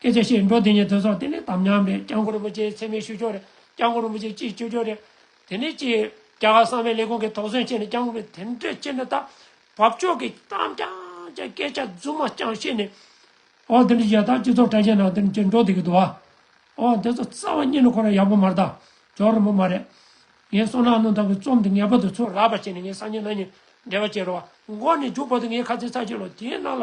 སྐད་ཆ་བཤད་འགྲོ་དེ་ཉིད་དུ་སོང་དེ་ནས་དམ་ཉམས་རེད་སྐྱག་མགོ་རིན་པོ་ཆེའི་མཚན་མེད་ཤོད་ཆོག་རེད་སྐྱག་མགོ་རིན་པོ་ཆེ་སྐྱིད་སྤྱོད་ཆོག་རེད་དེ་ནས་ཀྱི་རྒྱ་གར་གསང་བའི་ལས་ཁུངས་ཀྱི་དོགས་ཟོན་བྱས་ནས་སྐྱག་མགོ་རེད་དེ་འདྲ་བྱས་ན་ད་བབ་ཆོག་གི་གཏམ་རྐྱང་རྐྱང་སྐད་ཆ་རྫུན་མ་རྐྱང་བཤད་ནས་ཨོ་དེ་འདྲ་བྱས་ད་སྤྱི་ཚོགས་དྲ་རྒྱའི་ནང་དེ་འདྲ་བྱས་འགྲོ་དེ་གི་འདུག་ཨོ་དེ་ཚོ་རྩ་བ་ཉིད་ནས་ཁོ་རང་ཡག་པོ་མ་རེད་ད་ཇོ་རིན་པོ་མ་རེད། ངའི་སོ་ནག་རླུང་དང་གི་རྩོམ་དེ་ངེས་པར་དུ་ཚུར་རག་པ་བྱས་ནས་ངའི་སང་ཉིན་ན་ཉིན་འབྲེལ་བ་བྱེད་རོགས་འགོ་ནས་རྒྱུག་པ་དུ་ངའི་ཁ་རྩེ་ཚར་གཅིག་ལོ་དེའི་ནང་ལ་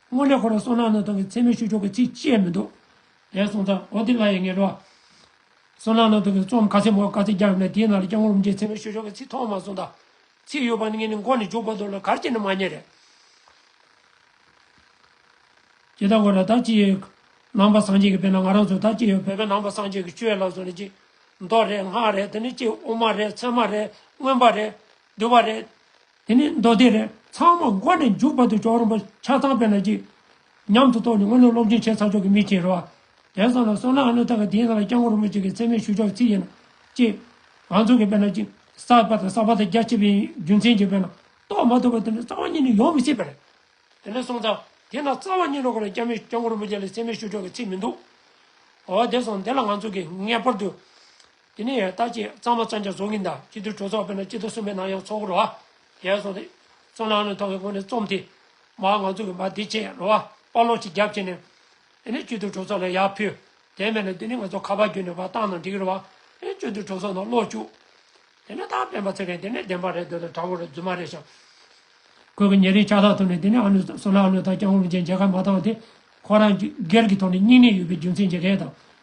སྔོན་ལས་ཁོ་རང་སོང་ནའང་ནང་དོན་གྱི་མཚན་སྨོད་ཞུ་ཆོག་གི་ཚིག་བཅད་མི་འདུག་ལན་གསུངས་ཙང་ཨོ་དེ་ལ་ཡི་ངེས་འགྲོ། སོང་ནའང་ནང་དོན་གྱི་རྩོམ་ག་ཚད་མང་ག་ཚད་རྒྱག་ཡོང་ན་དེའི་ནང་ལ་སྐྱག་མོ་རུམ་བརྒྱའི་མཚན་སྨོད་ཞུ་ཆོག་གི་ཚིག་ཐོག་མ་གསུངས་དང། ཚིག་ཡོད་པ་ནི་ངས་ནི་མགོ་ནས་མཇུག་བར་དོར་ལ་གར་སྐྱེ་ནི་མ་རྙེད། རེད་ཀྱི་ད་གོ་ན་ད་ཅི་ཡོད། ནང་པ་སངས་རྒྱས་ཀྱི་དཔེ་ན་ང་རང་ཚོ་ད་ཅི་ཡོད་བོད་པའི་ནང་པ་སངས་རྒྱས་ཀྱི་སྤྱོད་ལམ་སོགས་ནི་ཅི། མདོ་རེད་སྔགས་རེད་དེ་ནི་ཅི་དབུ་མ་རེད་ཚད་མ་རེད་མངོན་པ་རེད། བསྡུ་བ་རེད། དེ་ནས་མདོ་སྡེ་རེ་ཚང་མ་མགོ་ནས་མཇུག་བར་དུ་ཅོག་རོང་པོ་ཆགས་སྡང་དཔེ་ལ་གཅིག་ཉམས་སུ་རྟོགས་ནས་སྔོན་ལུགས་སློབ་སྦྱོང་བྱས་ཚར་ཆོག་གི་མི་བྱེད་རོགས། དེང་སང་ལ་སོགས་ནང་བློན་དག་གི་དེའི་ནང་ལ་སྐྱབས་མགོན་རིན་པོ་ཆེ་གི་མཚན་མེད་ཞུ་ཆོག་ཚིག་ཡིན་ན། ཅེས། ང་ཚོ་གི་དཔེ་ན་ཅིག་བསགས་པ་དང་བསགས་པ་དང་རྒྱ་ཆེ་བའི་རྒྱུ་མཚན་གྱིས་དཔེ་ན་རྟོགས་མ་ཐུབ་པ་དེ་འདྲ་རྩ་བ་ཉིད་ནས་ཡོང་མི་སྲིད་པ་རེད། དེ་ནས་སོང་ཙང་དེ་ན་རྩ་བ་ཉིད་ལོག་གི་ལ་སྐྱབས་མེད་སྐྱབས་མགོན་རིན་པོ་ཆེ་ལ་མཚན་མེད་ཞུ་ཆོག་གི་ཚིག་མི་འདུག་གོ། འོ་དེ་སོང་དེ་ལ་ང་ཚོ་གིས་ངེས་པར་དུ། དེ་ནས་ཡང་ལྟག་ཅེས་གཙང་མ་གཙང་ཆ་བཟོ་གིན་གདའ་སྤྱི་དུར་གྲོ་ཚོགས་དཔོན་ནང་སྤྱི་དུར་གསུམ་པའི་ནང་ཡང་ཚོགས་འཁོར་རོ་བ། ཞེས་སོགས་ཏེ། གཙོ་ནང་ནས་ཐོག་གི་སྔོན་ནས་རྩོམ་དེ། མ་ང་ཚོ་གི་མ་དེ་བཅས་རོ་བ་དཔའ་བློ་གཅིག་རྒྱབ་བྱས་ནས། དེ་ནས་སྤྱི་དུར་གྲོ་ཚོགས་ལ་ཡར་ཕུལ། དེ་མེད་ན་དེ་ནས་ང་ཚོ་ཁ་པར་བརྒྱུད་ནས་བ་ཏང་ནང་འདྲི་གི་རོ་བ། དེ་ནས་སྤྱི་དུར་གྲོ་ཚོགས་ནང་ཀློག་བཅུག། དེ་ནས་ད་སྤེན་པ་ཚེ་རིང་དེ་ནས་བདེན་པ་རེད་འདོད་ལ་དྲ་བོ་རེད་རྫུན་མ་རེད་བྱ། ཁོས་གི་ཉེ་རིང་ཕྱག་ཐག་ཐུག་ནས་དེ་ནས་ཨ་ནུ་བསོད་ནམས་ཨ་ནུ་དང་སྐྱག་ལུང་ཅན་མཇལ་ཁ་མ་བཏང་སྟེ། ཁོ་རང་སྒེར་གྱི་ཐོག་ནས་སྙིང་ནད་ཡོད་པའི་རྒྱུ་མཚན་བྱེད་མཁན་དང།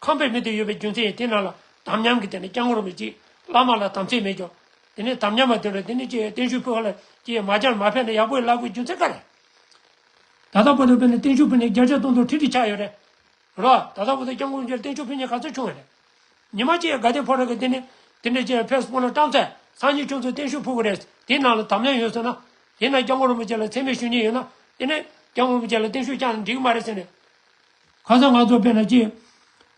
ཁམས་པའི་མི་དེ་ཡོད་པའི་རྒྱུ་མཚན་ཡིན་དེ་རྣམས་ལ་དམ་ཉམས་ཀྱི་དེ་ནི་སྐྱབས་ངོར་མི་བྱེད། བླ་མ་ལ་དམ་ཚིག་མེད་ཀྱང། དེ་ནས་དམ་ཉམས་པ་དེ་ལ་དེ་ནི་སྐྱེ་བའི་བརྟན་བཞུགས་ཕུལ་བ་ལ་སྐྱེས་མ་སྦྱར་མ་ཕེབས་ན་ཡག་པོ་ཡིན་སླ་པོའི་རྒྱུ་མཚན་ག་རེ། ད་ལྟ་བོ་དང་བོད་ནས་བརྟན་བཞུགས་ཕུལ་ནས་བརྒྱ་ཆ་སྟོང་དང་ཁྲི་ཁྲི་ཆགས་ཡོད་རེད། རེད་བ། ད་ལྟ་བོ་དང་སྐྱབས་ངོར་མཇལ་བརྟན་བཞུགས་ཕུལ་མཉེས་ག་ཚོད་བྱུང་བ་རེད། ཉི་མ་སྐྱེས་དགའ་ལྡན་ཕོ་བྲང་གི་དེ་ནས། དེ་འདྲའི་སྐྱེས་ཕེབས་སྤོ་ན་བཀྲམ་ཚད་སང་ཉིན་ཁྱོད་ཚོ་བརྟན་བཞུགས་ཕུལ་གི་རེད། དེ་རྣམས་ལ་དམ་ཉམས་ཡོད་ཟེར་ན། དེ་ན་སྐྱབས་ངོར་མི་བྱེད་ལ་ཚད་མེད་ཞུ་ཉེན་ཡོད་ན། དེ་ནས། སྐྱབས་ངོར་མི་བྱེད་ལ་བརྟན་བཞུགས་བསྐྱངས་ན་འགྲིག་གི་མ་རེད་ཟེར་ནས། ཁ་སང་ང་ཚོ་བལ་ལ་སྐྱེས།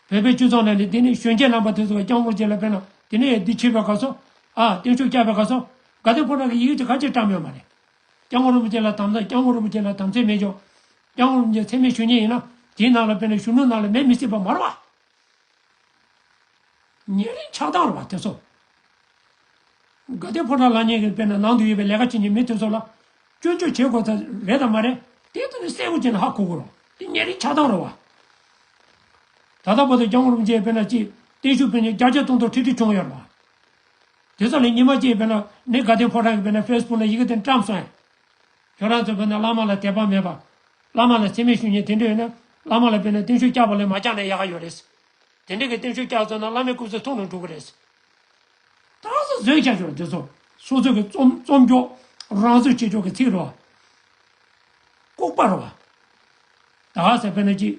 བལ་པའི་ཆུ་ཚང་ན་ལས་དེ་ནས་གཞོན་སྐྱེས་རྣམ་པ་དེ་ཚོ་རྐྱང་བོར་བྱས་ལ་བལ་ན་དེ་ནས་འདི་ཕྱི་བའི་ག་སོ། ཨ། བརྟན་བཞུགས་བསྐྱལ་བའི་ག་སོ། དགའ་ལྡན་ཁོ་ན་གི་ཡི་གེ་ཅིག་ཁ་ཕྱིར་བཀྲམ་ཡོད་མ་རེད། རྐྱང་བོ་རིན་པོ་ཆེ་ལ་དམ་ཚ་རྐྱང་བོ་རིན་པོ་ཆེ་ལ་དམ་ཚད་མེད་ཀྱང། རྐྱང་བོ་རིན་པོ་ཆེ་ཚད་མེད་ཞུ་ཉེན་ཡིན་ན་དེའི་ནང་ལ་བལ་ན་གཞོན་ནུ་རྣམས་ལ་མེད་མི་སྲིད་པ་མ་རེད་བ། ཉེ་རིང་ཆགས་སྡང་རུང་བ་དེ་ཚོ། དགའ་ལྡན་ཕོ་བྲང་ལགས་ཉེ་གི་དཔེར་ན་ནང་དུ་ཡོད་པའི་ལས་ཀ་བྱེད་ཉེ་མི་དེ་ཚོ་ལ། སྐྱོན་བརྗོད་བྱེད་དགོས་ད་རེད་དང་མ་རེད་དེ་ཚོ་ནི་སེ་གོ་ཅན་ལ་ཧ་གོ་གོ་རོགས་དེ་ཉེ་རིང་ཆགས་སྡང་རུང་བ། ད་ལྟ་བོ་དང་རྒྱ་དངུལ་རུང་བཅས་དཔེར་ན་ཅིག་བརྟན་བཞུགས་དཔོན་ཉེ་བརྒྱ་ཆ་སྟོང་སྟོང་ཁྲི་ཁྲི་བྱུང་ཡོད་རུང་བ། དེ་ཚོ་ལས་ཉི་མ་བཅས་དཔེར་ན་ནི་དགའ་ལྡན་ཕོ་བྲང་གི་དཔེར་ན་ཧྥེ་སི་བུག་ན་ཡི་གེ་དེ་བཀྲམས་སོང་ཡང་ཁྱོད་རང་ཚོའི་བོད་ནང་བླ་མ་ལ་དད་པ་མེད་པ། བླ་མ་ལ་འཚེ་མེད་ཞུ་ཉེན་དེ་འདྲ་ཡོད་ན། བླ་མ་ལ་དཔེར་ན་གཏིང་ཤུགས་བཀྱག་པ་ལས་མ་བཀྱག་ན་ཡག་ག་ཡོད་རེད། དེ་འདྲའི་གི་གཏིང་ཤུགས་བཀྱག་ཚར་ན་བླ་མའི་སྐུ་ཚེ་ཐུང་ནང་འགྲོ་གི་རེད། ད་རང་ཚོ་བཟོས་བྱ་ཆོག་འདི་ཚོ། སོ་སོ་གི་རྩོམ་རྩོམ་ཀྱོག་རང་བཟོས་བྱེད་ཆོག་གི་ཚིག་རོ། ལྐུགས་པ་རོ། ད་ག་ཟེར་བོད་ནང་གི།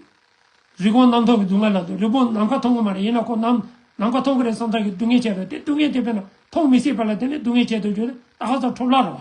རི་བོང་གནམ་ཐང་གི་སྡུག་བསྔལ་ལབ་འདུག་རི་བོང་ནམ་མཁའ་མཐོང་གི་མ་རེད་ཡིན་ན་ཁོ་གནམ་ནམ་མཁའ་མཐོང་གི་རེད་བསམ་ཚར་གི་སྡུག་བསྔལ་བྱས་འདུག་དེ་སྡུག་བསྔལ་དེ་བོད་ནང་མཐོང་མི་སྲིད་པ་ལ་དེ་འདྲའི་སྡུག་བསྔལ་བྱས་འདུག་རྒྱུ་ད་ག་ཟེར་ཁྲོམ་ལྷ་རོ།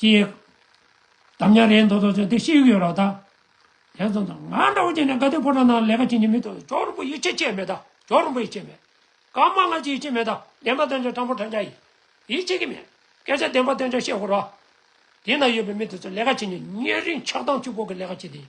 ཅི་ཡེ། དམ་ཉམས་རེད་མདོག་མདོག་ཅན་དེ་ཤེས་ཀྱི་ཡོད་རོགས་ད། དེ་ཙམ་དང་ང་འདྲ་བོ་ཅན་ནས་དགའ་སྡུག་ཕོ་བྲང་ནང་ལས་ཀ་བྱེད་ཀྱི་མི་འདུག་ཇོ་རིན་པོ་ཡིད་ཆེས་བྱེད་མེད་ད་ཇོ་རིན་པོ་ཡིད་ཆེས་མེད། ཀརྨ་སྔ་ཕྱི་ཡིད་ཆེས་མེད་ད་བདེན་པ་བསྟན་བྱ་སྤྲང་པོ་དྲ་འཇག་ཡིན། ཡིད་ཆེས་ཀྱི་མེད། སྐད་ཆ་བདེན་པ་བསྟན་བྱ་ཤེས་དགོས་རོགས། དེ་ན་ཡོད་པའི་མི་དེ་ཚོ་ལས་ཀ་བྱེད་ནས་ཉེ་རིང་ཆགས་སྡང་ཆུ་ཕོག་གི་ལས་ཀ་བྱེད་དེ་ཡིན།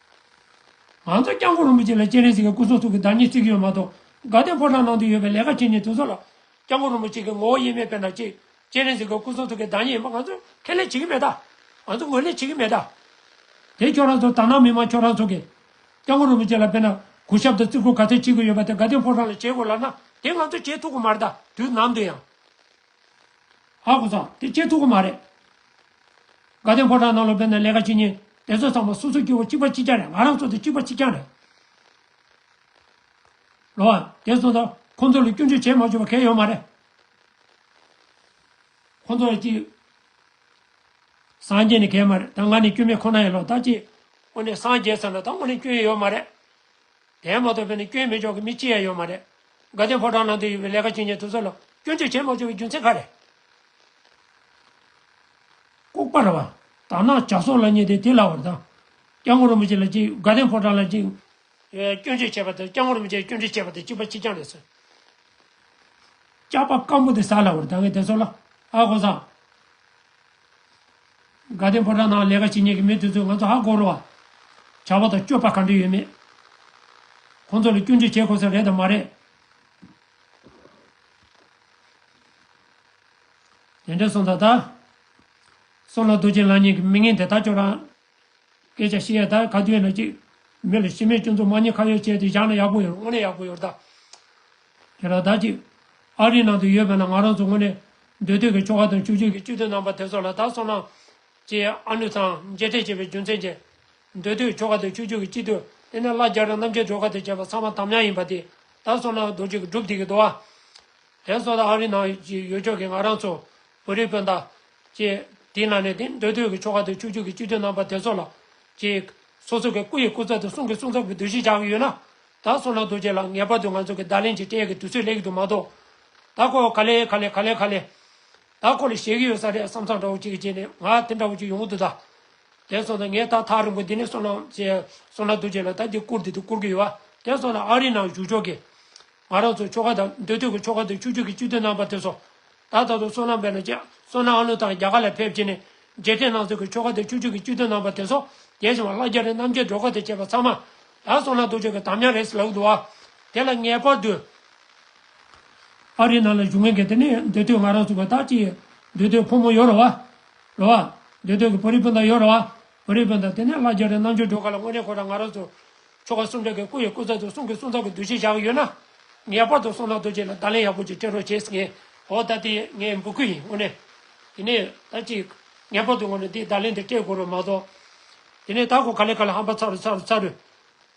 ང་ཚོ་སྐྱབས་མགོན་རིན་པོ་ཆེ་ལ་སྤྱན་རས་གཟིགས་ཀྱི་སྐུ་གསུང་ཐུགས་ཀྱི་བདག་ཉིད་བརྩིགས་ཡོད་མ་གཏོགས་དགའ་ལྡན་ཕོ་བྲང་ནང་དུ་ཡོད་པའི་ལས་ཀ་བྱེད་ཉིན་དེ་ཚོ་ལ། སྐྱབས་མགོན་རིན་པོ་ཆེ་གི་ངོ་བོ་དབྱེར་མེད་དཔེར་ན་ཅིག་སྤྱན་རས་གཟིགས་ཀྱི་སྐུ་གསུང་ཐུགས་ཀྱི་བདག་ཉིད་ཡིན་པ་ང་ཚོས་ཁས་ལེན་བྱེད་ཀྱི་མེད་ད། ང་ཚོ་ངོས་ལེན་བྱེད་ཀྱི་མེད་ད། དེ་ཁྱོད་རང་ཚོ་དར་ནག་མི་དམངས་ཁྱོད་རང་ཚོ་གིས། སྐྱབས་མགོན་རིན་པོ་ཆེ་ལ་དཔེར་ན་གུས་ཞབས་དང་བརྩི་བཀུར་ག་ཚད་བྱེད་ཀྱི་ཡོད་པ་དེ་དགའ་ལྡན་ཕོ་བྲང་ལ་བྱེད་དགོས་ལབ་ན་དེ་ང་ཚོས་བྱེད་ཐུབ་ཀྱི་མ་རེད་ད་དུས་ནམ་དུ་ཡང། ཨ་ཁོ་ཚང་དེ་སྐྱེ་ཐུབ་ཀྱི་མ་རེད། དགའ་ལྡན་ཕོ་བྲང་ནང་ལོ་པའི་ནང་ལས་ཀ་བྱེད་ཉིན་དེ་ཚོ་ཚང་མ་སོ་སོ་སྐྱེ་བོ་གཅིག་པ་གཅིག་རྐྱང་རེད་ང་རང་ཚོ་དེ་གཅིག་པ་གཅིག་རྐྱང་རེད། ལོ་ཨ་དེ་ཚོ་དང་ཁོང་ཚོ་ལ་སྐྱོན་བརྗོད་བྱས་མ་བཅུག་པ་གལ་ཡོད་མ་རེད། ཁོང་ཚོ་ལ་གཅིག་སངས་རྒྱས་ནི་གལ་མ་རེད་ད་ང་ནི་སྐྱོན་མེད་ཁོ་ན་ཡིན་ལོ་ད་གཅིག་དངོས་གནས་སངས་རྒྱས་ཚང་ལ་ད་དངོས་གནས་སྐྱོན་ཡོད་མ་རེད། དེ་མ་ཐོབ་པས་ནི་སྐྱོན་མི་འཇོག་གི་མི་ཅི་ཡང་ཡོད་མ་རེད། དགའ་ལྡན་ཕོ་བྲང་ནང་དུ་ཡོད་པའི་ལས་ཀ་ཇི་སྙེད་ཐུབ་ས་ལ་སྐྱོན་བརྗོད་བྱེད་མ་བཅུག་པའི་རྒྱུ་མཚན་ག་རེད། ལྐུགས་པ་ར་བ། དར་ནག་ཇག་ཚོགས་ལ་བསྙད་དེ་དེ་ལ་བར་དང། སྐྱག་མགོ་རིན་པོ་ཆེ་ལ་གཅིག་དགའ་ལྡན་ཕོ་བྲང་ལ་གཅིག། སྐྱོན་བརྗོད་བྱེད་པ་དང་སྐྱག་མགོ་རིན་པོ་ཆེ་སྐྱོན་བརྗོད་བྱེད་པ་དང་གཅིག་པ་གཅིག་རྐྱང་རེད་ཟེར། སྐྱག་པ་སྐམ་པོ་དེ་ཟ་ལ་བར་དང་གི་དེ་ཚོ་ལ། ཨ་ཧོ་བཟང། དགའ་ལྡན་ཕོ་བྲང་ནང་ལས་ཀ་བྱེད་ཉན་གི་མི་དེ་ཚོས་ང་ཚོ་ཧ་གོ་རུ་བ། བྱ་བ་དང་སྤྱོད་པ་ག་འདྲ་ཡོད་མེད། ཁོང་ཚོ་ལ་སྐྱོན་བརྗོད་བྱེད་དགོས་ས་རེད་དམ་མ་རེད། དེ་འདྲས་སོང་ད་ལྟ། སོང་ལ་རྡོ་རྗེ་ལགས་ཉན་གི་མི་ངན་དེ་དག་ཁྱོད་རང། སྐད་ཆ་བཤད་ཡ་ད་ག་དུས་ཡིན་ན་ཅིག། མི་ལ་ཤི་རྨས་སྐྱོན་འཛུགས་མ་ཉེས་ཁ་ཡོད་བྱས་ཏེ་བཞག་ན་ཡག་པོ་ཡོད་རེད་དངོས་གནས་ཡག་པོ་ཡོད་རེད་ད། དེ་ལ་བདག་གིས། ཨ་རིའི་ནང་དུ་ཡོད་པས་ན་ང་རང་ཚོ་དངོས་གནས། འདོད་འདོད་ཀྱི་ཆོ་ག་དང་བྱུས་བརྗོད་ཀྱི་བཅུད་དུ་སྣང་བ་དེ་ཚོ་ལ་བདག་སོང་ན། ཅེས་ཨ་ནུ་ཚང་མཇལ་འཕྲད་བྱས་པའི་རྒྱུ་མཚན་ཅི། འདོད་འདོད་ཆོ་ག་དང་བྱུས་བརྗོད་ཀྱི་བཅུད་དུ་བརྟེན་ན་སླར་རྒྱ་གྲམ་རྣམ་རྒྱལ་སྒྲོལ་དཀར་དུ་བྱས་པ་ཚང་མ་དམ་ཉམས་ཡིན་པ་དེ་བདག་སོང་ན་རྡོ་རྗེ་སྒྲུབ་སྡེ་གི་རྡོ་བ། དེ་སོགས་དང་ཨ་རིའི་ནང་གི་ཡུལ་ཕྱོགས་ཀྱི་ང་རང་ཚོ། བོད་རིགས་སྤུན་ཟླ། ཅེས་དེའི་ནང་ནས་དེ་འདོད་འདོད་ཀྱི་ཆོ་ག་དང་བྱུས་བརྗོད་ཀྱི་བཅུད་དུ་སྣང་བ་དེ་ཚོ་ལ། ཅེས། སོ་སོ་གི་སྐུ་ཡི་སྐུ་ཚབ་དང་གསུང་གི་གསུང་ཚབ་ཀྱི་འདུ་ཤེས་བཞག་ཡོད་ན། ད་སོ་ན་རྡོ་རྗེ་ལགས་ངེས་པར་དུ་ང་ཚོ་གི་ད་ལན་གྱི་སྤྲེལ་གི་དུས་ཚོད་ལེགས་འདུག་མ་གཏོགས། ད་ཁོ་ག་ལེ་ག་ལེ་ག་ལེ་ག་ལེ། ད་ཁོ་ལ་ཞེ་གི་ཡོད་ས་རེད་བསམ་བསམ་འདྲ་བོ་ཅིག་གི་རྗེས་ནས་ང་དེ་འདྲ་བོ་ཅིག་ཡོང་དུ་ད། དེ་སོང་ད་ངས་ད་ཐག་རིང་པོ་འདི་ནས་སོ་ན་ཅེས་སོ་ན་རྡོ་རྗེ་ལགས་ད་འདི་བསྐུར་འདི་དུ་བསྐུར་གི་ཡོད་བ་དེ་སོང་ན་ཨ་རིའི་ནང་བཞུགས་ཆོག་གི། ང་རང་ཚོ་ཆོ་ག་དང་འདོད་དོད་གི་ཆོ་ག་དང་ཆུ་ཆུ་གི་སྤྱི་དོན་རྣམ་པ་དེ་སོ། ད་ད་དུང་སོ་ན་འབེལ་ན་ཅེས་སོ་ན་ཨ་ནུ་ཐང་རྒྱ་གར་ལ་ཕེབས་བྱས་ནས་རྗེས་དྲན་གནང་ཚོད་གི་ཆོ་ག་དང་ཆུ་ཆུ་གི་སྤྱི་དོན་རྣམ་པ་དེ་སོ། རྒྱལ་བྱང་བ་ལྷ་རྒྱ་རི་རྣམ་རྒྱལ་སྒྲོལ་དཀར་དང་བཅས་པ་ཚང་མ་ལ་སོགས་ལ་དུག་ཆོས་ཀྱི་དམ་ཉམས་རེས་ལ་འདུ་བ། དེ་ལ་ངེས་པར་འདུ། ཨ་རིའི་ནང་ལ་བཞུགས་མཁན་གྱི་དེ་ནས་འདོད་དོན་ང་རང་ཚུགས་པ་དག་གཅིག། འདོད་དོན་ཕོ་མོ་ཡོད་རུང་བ། རུང་བ། འདོད་དོན་གྱི་བོད་རིགས་སྤུན་ཟླ་ཡོད་རུང་བ། བོད་རིགས་སྤུན་ཟླ་དེ་ནས་ལྷ་རྒྱལ་རིགས་རྣམ་འབྱོར་སྒྲོལ་དཀར་ལ་དངོས་གནས་ཁོ་རང་ང་རང་ཚུགས། ཆོ་ག་སུམ་ཕྲག་གི་སྐུ་ཡི་སྐུ་ཚབ་ཏུ་གསུང་གི་གསུང་ཚབ་ཀྱི་འདུ་ཤེས་བཞག་གི་ཡོད་ན། ངེས་པར་དུ་སོང་ན་དུག་ཆོས་ལ་བརྡ་ལན་ཡག་པོ་ཅིག་སྤྲད་རོགས་བྱེད་ངེས། འོ་ད་དེ་ངའི་འབོད་སྐུལ་ཡིན་དངོས་གནས། དེ་ནས་ད་ཅིག། ངེས་པར་དུ་ངོ་ནས་དེའི་བརྡ་ལན་དེ་སྤྲད་དགོས་རོགས་མ་གཏོགས། དེ་ནས་དར་ཁོ་ཁ་ལེ་ཁ་ལེ་ཧམ་པ་ཚ་རུ་ཚ་རུ་ཚ་རུ།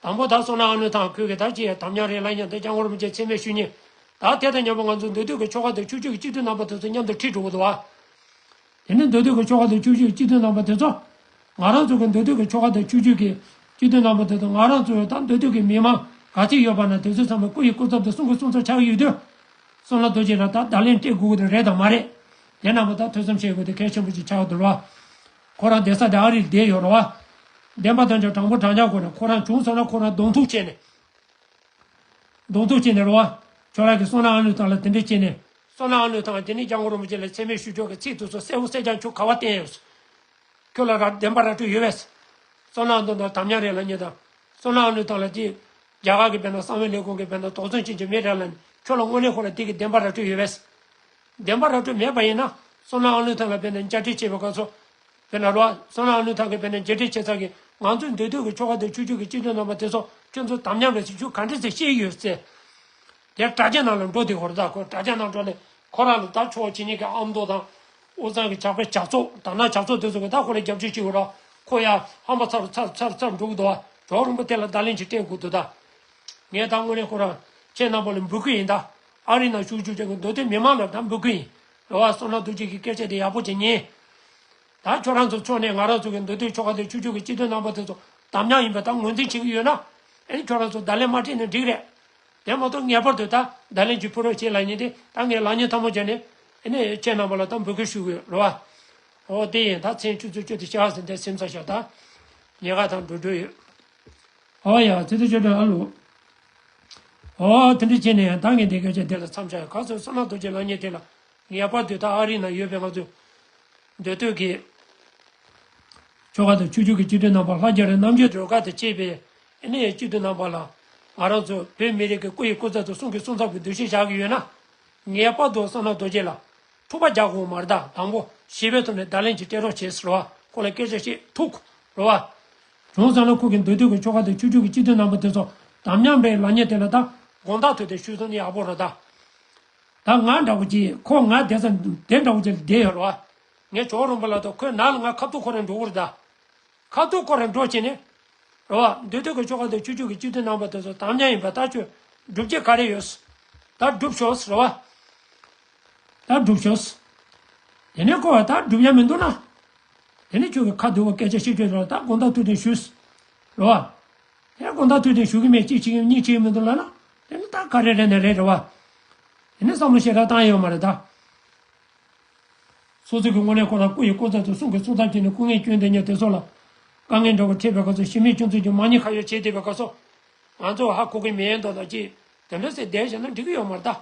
དང་པོ་དར་སོང་ན་ཨ་ནུ་ཐང་ཁོད་ཀྱི་དར་གྱི་ཡ་དམ་ཉང་རེ་ལ་ཉང་སྟོད་སྐྱ་སྔོ་རུ་མི་བཅས་ཚད་མེད་ཤུལ་ཉེ། དར་དེ་དང་མཉམ་པོ་ང་ཚོ་འདོད་དུས་ཀྱི་ཆོ་ག་དུ་ཆུག་ཆུག་གི་གཅིག་ཏུ་ནང་པ་དེ་ཚོ་མཉམ་དུ་ཁྲིད་འགྲོ་གི་འདུག་བ། དེ་ནི་འདོད་དུས་ཀྱི་ཆོ་ག་དུ་ཆུག་ཆུག་གི་གཅིག་ཏུ་ནང་པ་དེ་ཚོ། ང་རང་ཚོ་གི་འདོད་དུས་ཀྱི་ཆོ་ག་དུ་ཆུག་ཆུག་གི་གཅིག་ཏུ་ནང་པ་དེ་ཚོ་ང་རང་ཚོའི་དང་འདོད་དུས་ཀྱི་མི་མང་ག་ཚིག་ཡོད་པ་ན་དེ་ཚོའི་ཚང་མ་སྐུ་ཡི་སྐུ་ཚབ་དུ་གསུང་གི་གསུང་ཚབ་ཆགས་ཀྱི་ཡོད་དུས། སོང་ན་རྡོ་རྗེ་ལ་ད་བརྡ་ལན་སྤྲད་དགོས་ཀྱི་དུ་རེད་དང་མ་རེད། དེ་རྣམས་པ་ད་ཐོས་བསམ་བྱེད་དགོས་དུ་གལ་ཆེན་པོ་ཅིག་ཆགས་ཀྱི་འདུག་བ། ཁོ་རང་བསྡད་ས་དེ་ཨ་རིར་བསྡད་ཡོད་རོགས་ཨ། བསྡད་མ་ཐོན་ཅང་དྲང་པོ་དྲང་བཞག་གོ་རེད་ཁོ་རང་བྱུང་སོང་ན་ཁོ་རང་གདོང་ཐུག་བྱེད་ནས། གདོང་ཐུག་བྱེད་ནས་རོགས་ཨ། ཁྱོད་རང་གི་སོང་ནའང་ལུས་ཐང་ལ་དེ་འདྲས་བྱེད་ནས། སོང་ནའང་ལུས་ཐང་དེ་ནི་རྒྱ་མགོ་རོང་པོ་ཅན་ལ་འཚེ་མེད་ཞུ་ཕྱོགས་ཀྱི་ཚིག་ཐུག་སོགས་གསལ་བོ་གསལ་རྐྱང་ཁྱོད་ག་བ་བསྟན་ཡོད། ཁྱོད་ལ་ར་བདེན་པ་ར་སྤྲོད་ཡོད་བས། སོང་ནའང་དོན་དང་དམ་ཉམས་རེད་ལ་ཉེས་དང། སོང་ནའང་ལུས་ཐང་ལ་ཅི། རྒྱ་གར་གི་བན་དང་གསང་བའི་ལས་ཁུངས་ཀྱི་བན་དང་དོགས་ཟོན་བྱེད་ཀྱི་མི་རེད་ལ་ནི་ཁྱོད་ལ་དངོས་གནས་ཁོ་ལ་དེ་གི་བདེན་པ་ར་སྤྲོད་ཡོད་བས། བདེན་པ་ར་སྤྲོད་མེད་པ་ཡིན་ན། སོ་ནའང་ལུས་ཐང་ལ་དཔེ་ནས་བཅར་འདྲི་བྱེད་པའི་དགོས་ཚོ། དཔེར་ན་ལོ། སོ་ནའང་ལུས་ཐང་གི་དཔེ་ནས་འབྱེད་འདྲི་བྱེད་ཚར་གི། ང་ཚོས་འདུས་སྡོད་ཀྱི་ཆོ་ག་དང་ཆོས་བརྒྱུད་ཀྱི་སྤྱི་དོན་རྣམ་པ་དེ་ཚོ་ཁྱོད་ཚོས་དམ་ཉམས་པའི་ཚིག་ཆུ་ག་འདྲས་ཚེ་ཤེས་ཀྱི་ཡོད་ཟེར། དེར་དྲ་རྒྱ་ནང་ལ་འགྲོ་དེ་ཧོར་ཟླ་ཁོ་དྲ་རྒྱ་ནང་འགྲོ་ནས་ཁོ་རང་ལ་ད་ཆོག་ཇི་སྙེད་ཀྱི་ཨ་མདོ་དང། ཨོ་ཚང་གི་ཇག་པས་ཇག་ཚོགས་དར་ནག་ཇག་ཚོགས་དེ་ཚོ་གིས་ད་ཁོ་ལ་རྒྱབ་སྐྱོར་བྱེད་དགོས་ར་ཁོ་ཡ་ཧམ་པ་ཚར་རུ་ཚར་ཚར་ཚར་འགྲོ་གི་འདུག་ཨ་གྲོགས་རིན་པོ་ཏེ་ལ་བརྡ་ལན་ཅིག་སྤྲད་དགོས་འདུག་ད། ངས་ད་དངོས་གནས་ཁོ་རང་ཁྱེད་རྣམ་པ་ལ་འབུལ་གི་ཡིན་ད། ཨ་རིའི་ནང་བཞུགས་བཅུག་ཅིང་འདུག་དུས་མི་མང་ལ་དམ་འབུལ་གྱི་ཡིན། འགྲོ་བ་སོང་ན་འདུག་བྱེད་ཀྱི་སྐད་ཆ་དེ་ཡག་པོ་ཇི་སྙེད། ད་ཁྱོད་རང་ཚོ་ཕྱོགས་ནས་ང་རང་ཚོ་གི་འདུག་དུས་ཆོ་ག་དེ་ཆུ་ཆུ་གི་སྤྱི་དོན་རྣམ་པ་དེ་ཚོ་དམ་ཉམས་ཡིན་པ་དང་ངོས་འཛིན་བྱེད་ཀྱི་ཡོད་ན། ཨེ་ཁྱོད་རང་ཚོ་བརྡ་ལན་མ་སྤྲད་ནས་འགྲིག་རེད། དེ་མ་གཏོགས་ངེས་པར་དུ་ད་བརྡ་ལན་གྱི་ཕུ་རོག་བྱེད་ལ་ཉེ་དེ་ད་ངས་ལག་གཉིས་ཐང་མོ་བརྒྱབ་ནས། ཨེ་ཁྱེད་རྣམ་པ་ལ་དམ་འབུལ་གྱི་ཞུ་གི་རེད། ཨོ་དེ་ཡིན་ད་མཚན་ཆུ་ཚོད་བཅུ་དེ་ཤག་ཟིན་ཏེ་སེམས་ས་ཤག་ད། ཉེ་དགའ་དང་འགྲོ་འགྲོ་ཡོད། ཨོ་ཡ། ཚེ་ཚེ་ཆོས་སྒྲོན་ཨ་ལོ། ཨོ། དེ་འདྲ་བྱས་ནས་ཡང་བདག་གིས་འདི་སྐད་ཅེས་དེ་ལ་མཚམས་བཞག་ག་ཚོད་བསམ་ན་རྡོ་རྗེ་ལག་གཉིས་དེ་ལ་ངེས་པར་དུ་ད་ཨ་རི་ན་ཡོད་པའི་ང་ཚོའི་འདོད་བསྟོད་ཀྱི་ཆོ་ག་དང་ཆོས་འབྱུང་གི་སྤྱི་དོན་རྣམ་པ་ལྷ་རྒྱ་རི་རྣམ་རྒྱལ་སྒྲོལ་དཀར་དང་བཅས་པའི་གནས་ཡི་སྤྱི་དོན་རྣམ་པ་ལ་ང་རང་ཚོ་བོད་མི་རིགས་ཀྱི་སྐུ་ཡི་སྐུ་ཚབ་དུ་གསུང་གི་གསུང་ཚབ་ཀྱི་འདུ་ཤེས་བཞག་གི་ཡོད་ན། ངེས་པར་དུ་བསམ་ན་རྡོ་རྗེ་ལ་ཐུག་པ་རྒྱག་དགོས་མར་བདག་དང་པོ་ཞི་བའི་ཐོག་ནས་བརྡ་ལན་གྱི་སྤྲད་རོགས་བྱེད་རོགས་ཁོང་ལ་སྐད་ཆ་ཞིག་ཐུག་རོགས། གྲོང་ཚོ་ལ་ཁུག་གི་འདོད་དོན་གྱི་ཆོ་ག་དང་བཅུ་དྲུག་གི་སྤྱི་དོན་སྣ་མོ་དེ་ཚོ་དམ་ཉམས་པའི་ལག་ཉེས་དེ་ལ་ད་དགོངས་དག་ཐོས་ཏེ་ཤུལ་ཙུང་ནི་ཡག་པོ་རོ་ད། ད་ང་འདྲ་བོ་ཅིག་ཁོ་ང་དེ་ཚ་དེ་འདྲ་བོ་ཅིག་ལ་བསྡད་ཡོད་རོ། ངས་ཇོ་རོན་པོ་ལ་ད་ཁོའི་ནག་ལ་ང་ཁ་ཐུག་ཁོ་རང་འགྲོ་གི་རོ་ད། ཁ་ཐུག་ཁོ་རང་འགྲོ་བྱས་ནས། རོ་བ། འདོད་དོན་གྱི་ཆོ་ག་དང་བཅུ་དྲུག་གི་སྤྱི་དོན་སྣ་མོ་དེ་ཚོ་དམ་ཉམས་ཡིན་པ་ད་ཁྱོད་སྒྲུབ་བྱེད་ག་རེ་ཡོད། ད་སྒྲུབ་ཤོག་རོ་བ། ད་སྒྲུབ་ཤོག། དེ་ནས་ཁོ་བ་ད་སྒྲུབ་ཡ་མི་འདུག་ན། དེ་ནས་ཁྱོད་ཀྱི་ཁ་བསྡུ་བ་སྐད་ཆ་ཤེས་ཁྱོད་རང་ད་དགོངས་དག་ཐུགས་གཏན་ཞུས། རེད་བ། དེ་དགོངས་དག་ཐུགས་གཏན་ཞུ་གི་མེད་གཅིག་བྱེད་ཡོད་གཉིས་བྱེད་ཡོད་མི་འདུག་ལབ་ན། དེ་ནི་ད་ག་རེ་རེད་ན་རེད་རེད་བ། དེ་ནས་བསམ་བློ་ཞེ་དྲག་བཏང་ཡོད་མ་རེད་ད། སོ་སོ་གི་དངོས་གནས་ཁོ་རང་སྐུ་ཡི་སྐུ་ཚབ་དུ་གསུང་གི་གསུང་ཚབ་བྱས་ནས་སྐུ་ངལ་སྐྱོན་དེ་ཉོ་དེ་སོགས་ལ། དཀའ་ངལ་འདྲ་བོ་འཕྲད་པའི་སྐབས་སུ་ཤི་མིའི་ཁྱོད་ཚོས་ཀྱང་མ་ཉེས་ཁ་ཡོག་བྱས་བསྡད་པའི་སྐབས་སུ། ང་ཚོ་ཧ་གོ་གི་མེད་མདོག་མདོག་ཅིག་དེ་འདྲ་ཟེར་བསྡད་བཞག་ན་འགྲིག་གི་ཡོད་མ་རེད་ད།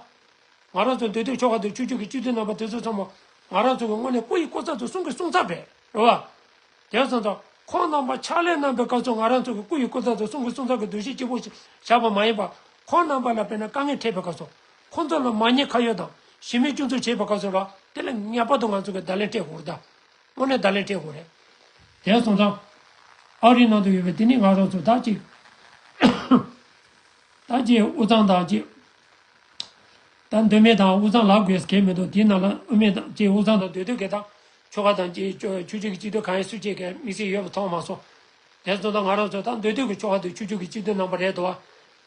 ང་རང་ཚོ་འདོད་དོན་ཆོ་ག་དུ་ཆུ་ཆུ་གི་བཅུད་ཚོད་རྣམ་པ་དེ་ཚོ་ཚང་མ་ང་རང་ཚོ་གི་སྔོན་ནས་སྐུ་ཡི་སྐུ་ཚབ་ཏུ་གསུང་གི་གསུང་ཚབ་རེད་རོ། བ་དེ་ཚོ་དང། ཁོང་རྣམ་པ་ཕྱག་ལས་གནང་པའི་སྐབས་སུ་ང་རང་ཚོ་གི་སྐུ་ཡི་སྐུ་ཚབ་ཏུ་གསུང་གི་གསུང་ཚབ་གི་འདུ་ཤེས་སྐྱིད་པོ་ཞིག་བཞག་པ་མ་ཡིན་པར། ཁོང་རྣམ་པ་ལ་དཔེར་ན་དཀའ་ངལ་འཕྲད་པའི་སྐབས་སུ། ཁོང་ཚོ་ལ་མ་ཉེས་ཁ་ཡོད་དང་ཞི་མི་སྐྱོན་འཛུགས་བྱེད་པའི་སྐབས་སུ་ལ་དེ་ལ་ངེས་པར་དུ་ང་ཚོ་གི་བརྡ་ལན་སྤྲད་དགོས་རེད། དངོས་གནས་བརྡ་ལན་སྤྲད་དགོས་རེད། དེ་ཚོ་དང། ཨ་རིའི་ནང་དུ་ཡོད་པའི་དེ་ནི་ང་རང་ཚོ་དག་ཅིག་དང། དག་ཅིག་ཨུ་ཚང་དང་ཅིག་དང་འདོད་མེད་དང་དབུགས་གཙང་ལག་དགོས་གལ་མེད་དོ་དེའི་ནང་ལ་དབུས་མེད་དང་བཅས་དབུགས་གཙང་དང་འདོད་དུ་གལ་དང། ཆོ་ག་དང་བཅས་ཆུ་བཅུད་ཀྱི་སྤྱི་དོན་གང་ཡིན་སུས་བཅད་གལ་དམིགས་བསལ་ཡོད་པ་མཐོང་མ་སོང། དེར་ཙོ་དང་ང་རང་ཚོས་ད་འདོད་དུ་གི་ཆོ་ག་དུ་ཆུ་བཅུད་ཀྱི་སྤྱི་དོན་རྣམ་པ་རེད་དོ།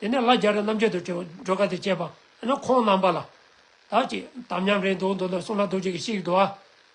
དེ་ནས་ལ་རྒྱ་རི་རྣམ་རྒྱལ་དུ་བྲོས་བྲོས་ག་དེ་བཅད་པ་ཨེ་ན་ཁོང་རྣམ་པ་ལ། ད་ཅིག་དམ་ཉམས་རེད་འདུག་འདུག་ན་གསུང་ལ་རྡོ་རྗེ་གི་ཤིག་དུ་ཨ།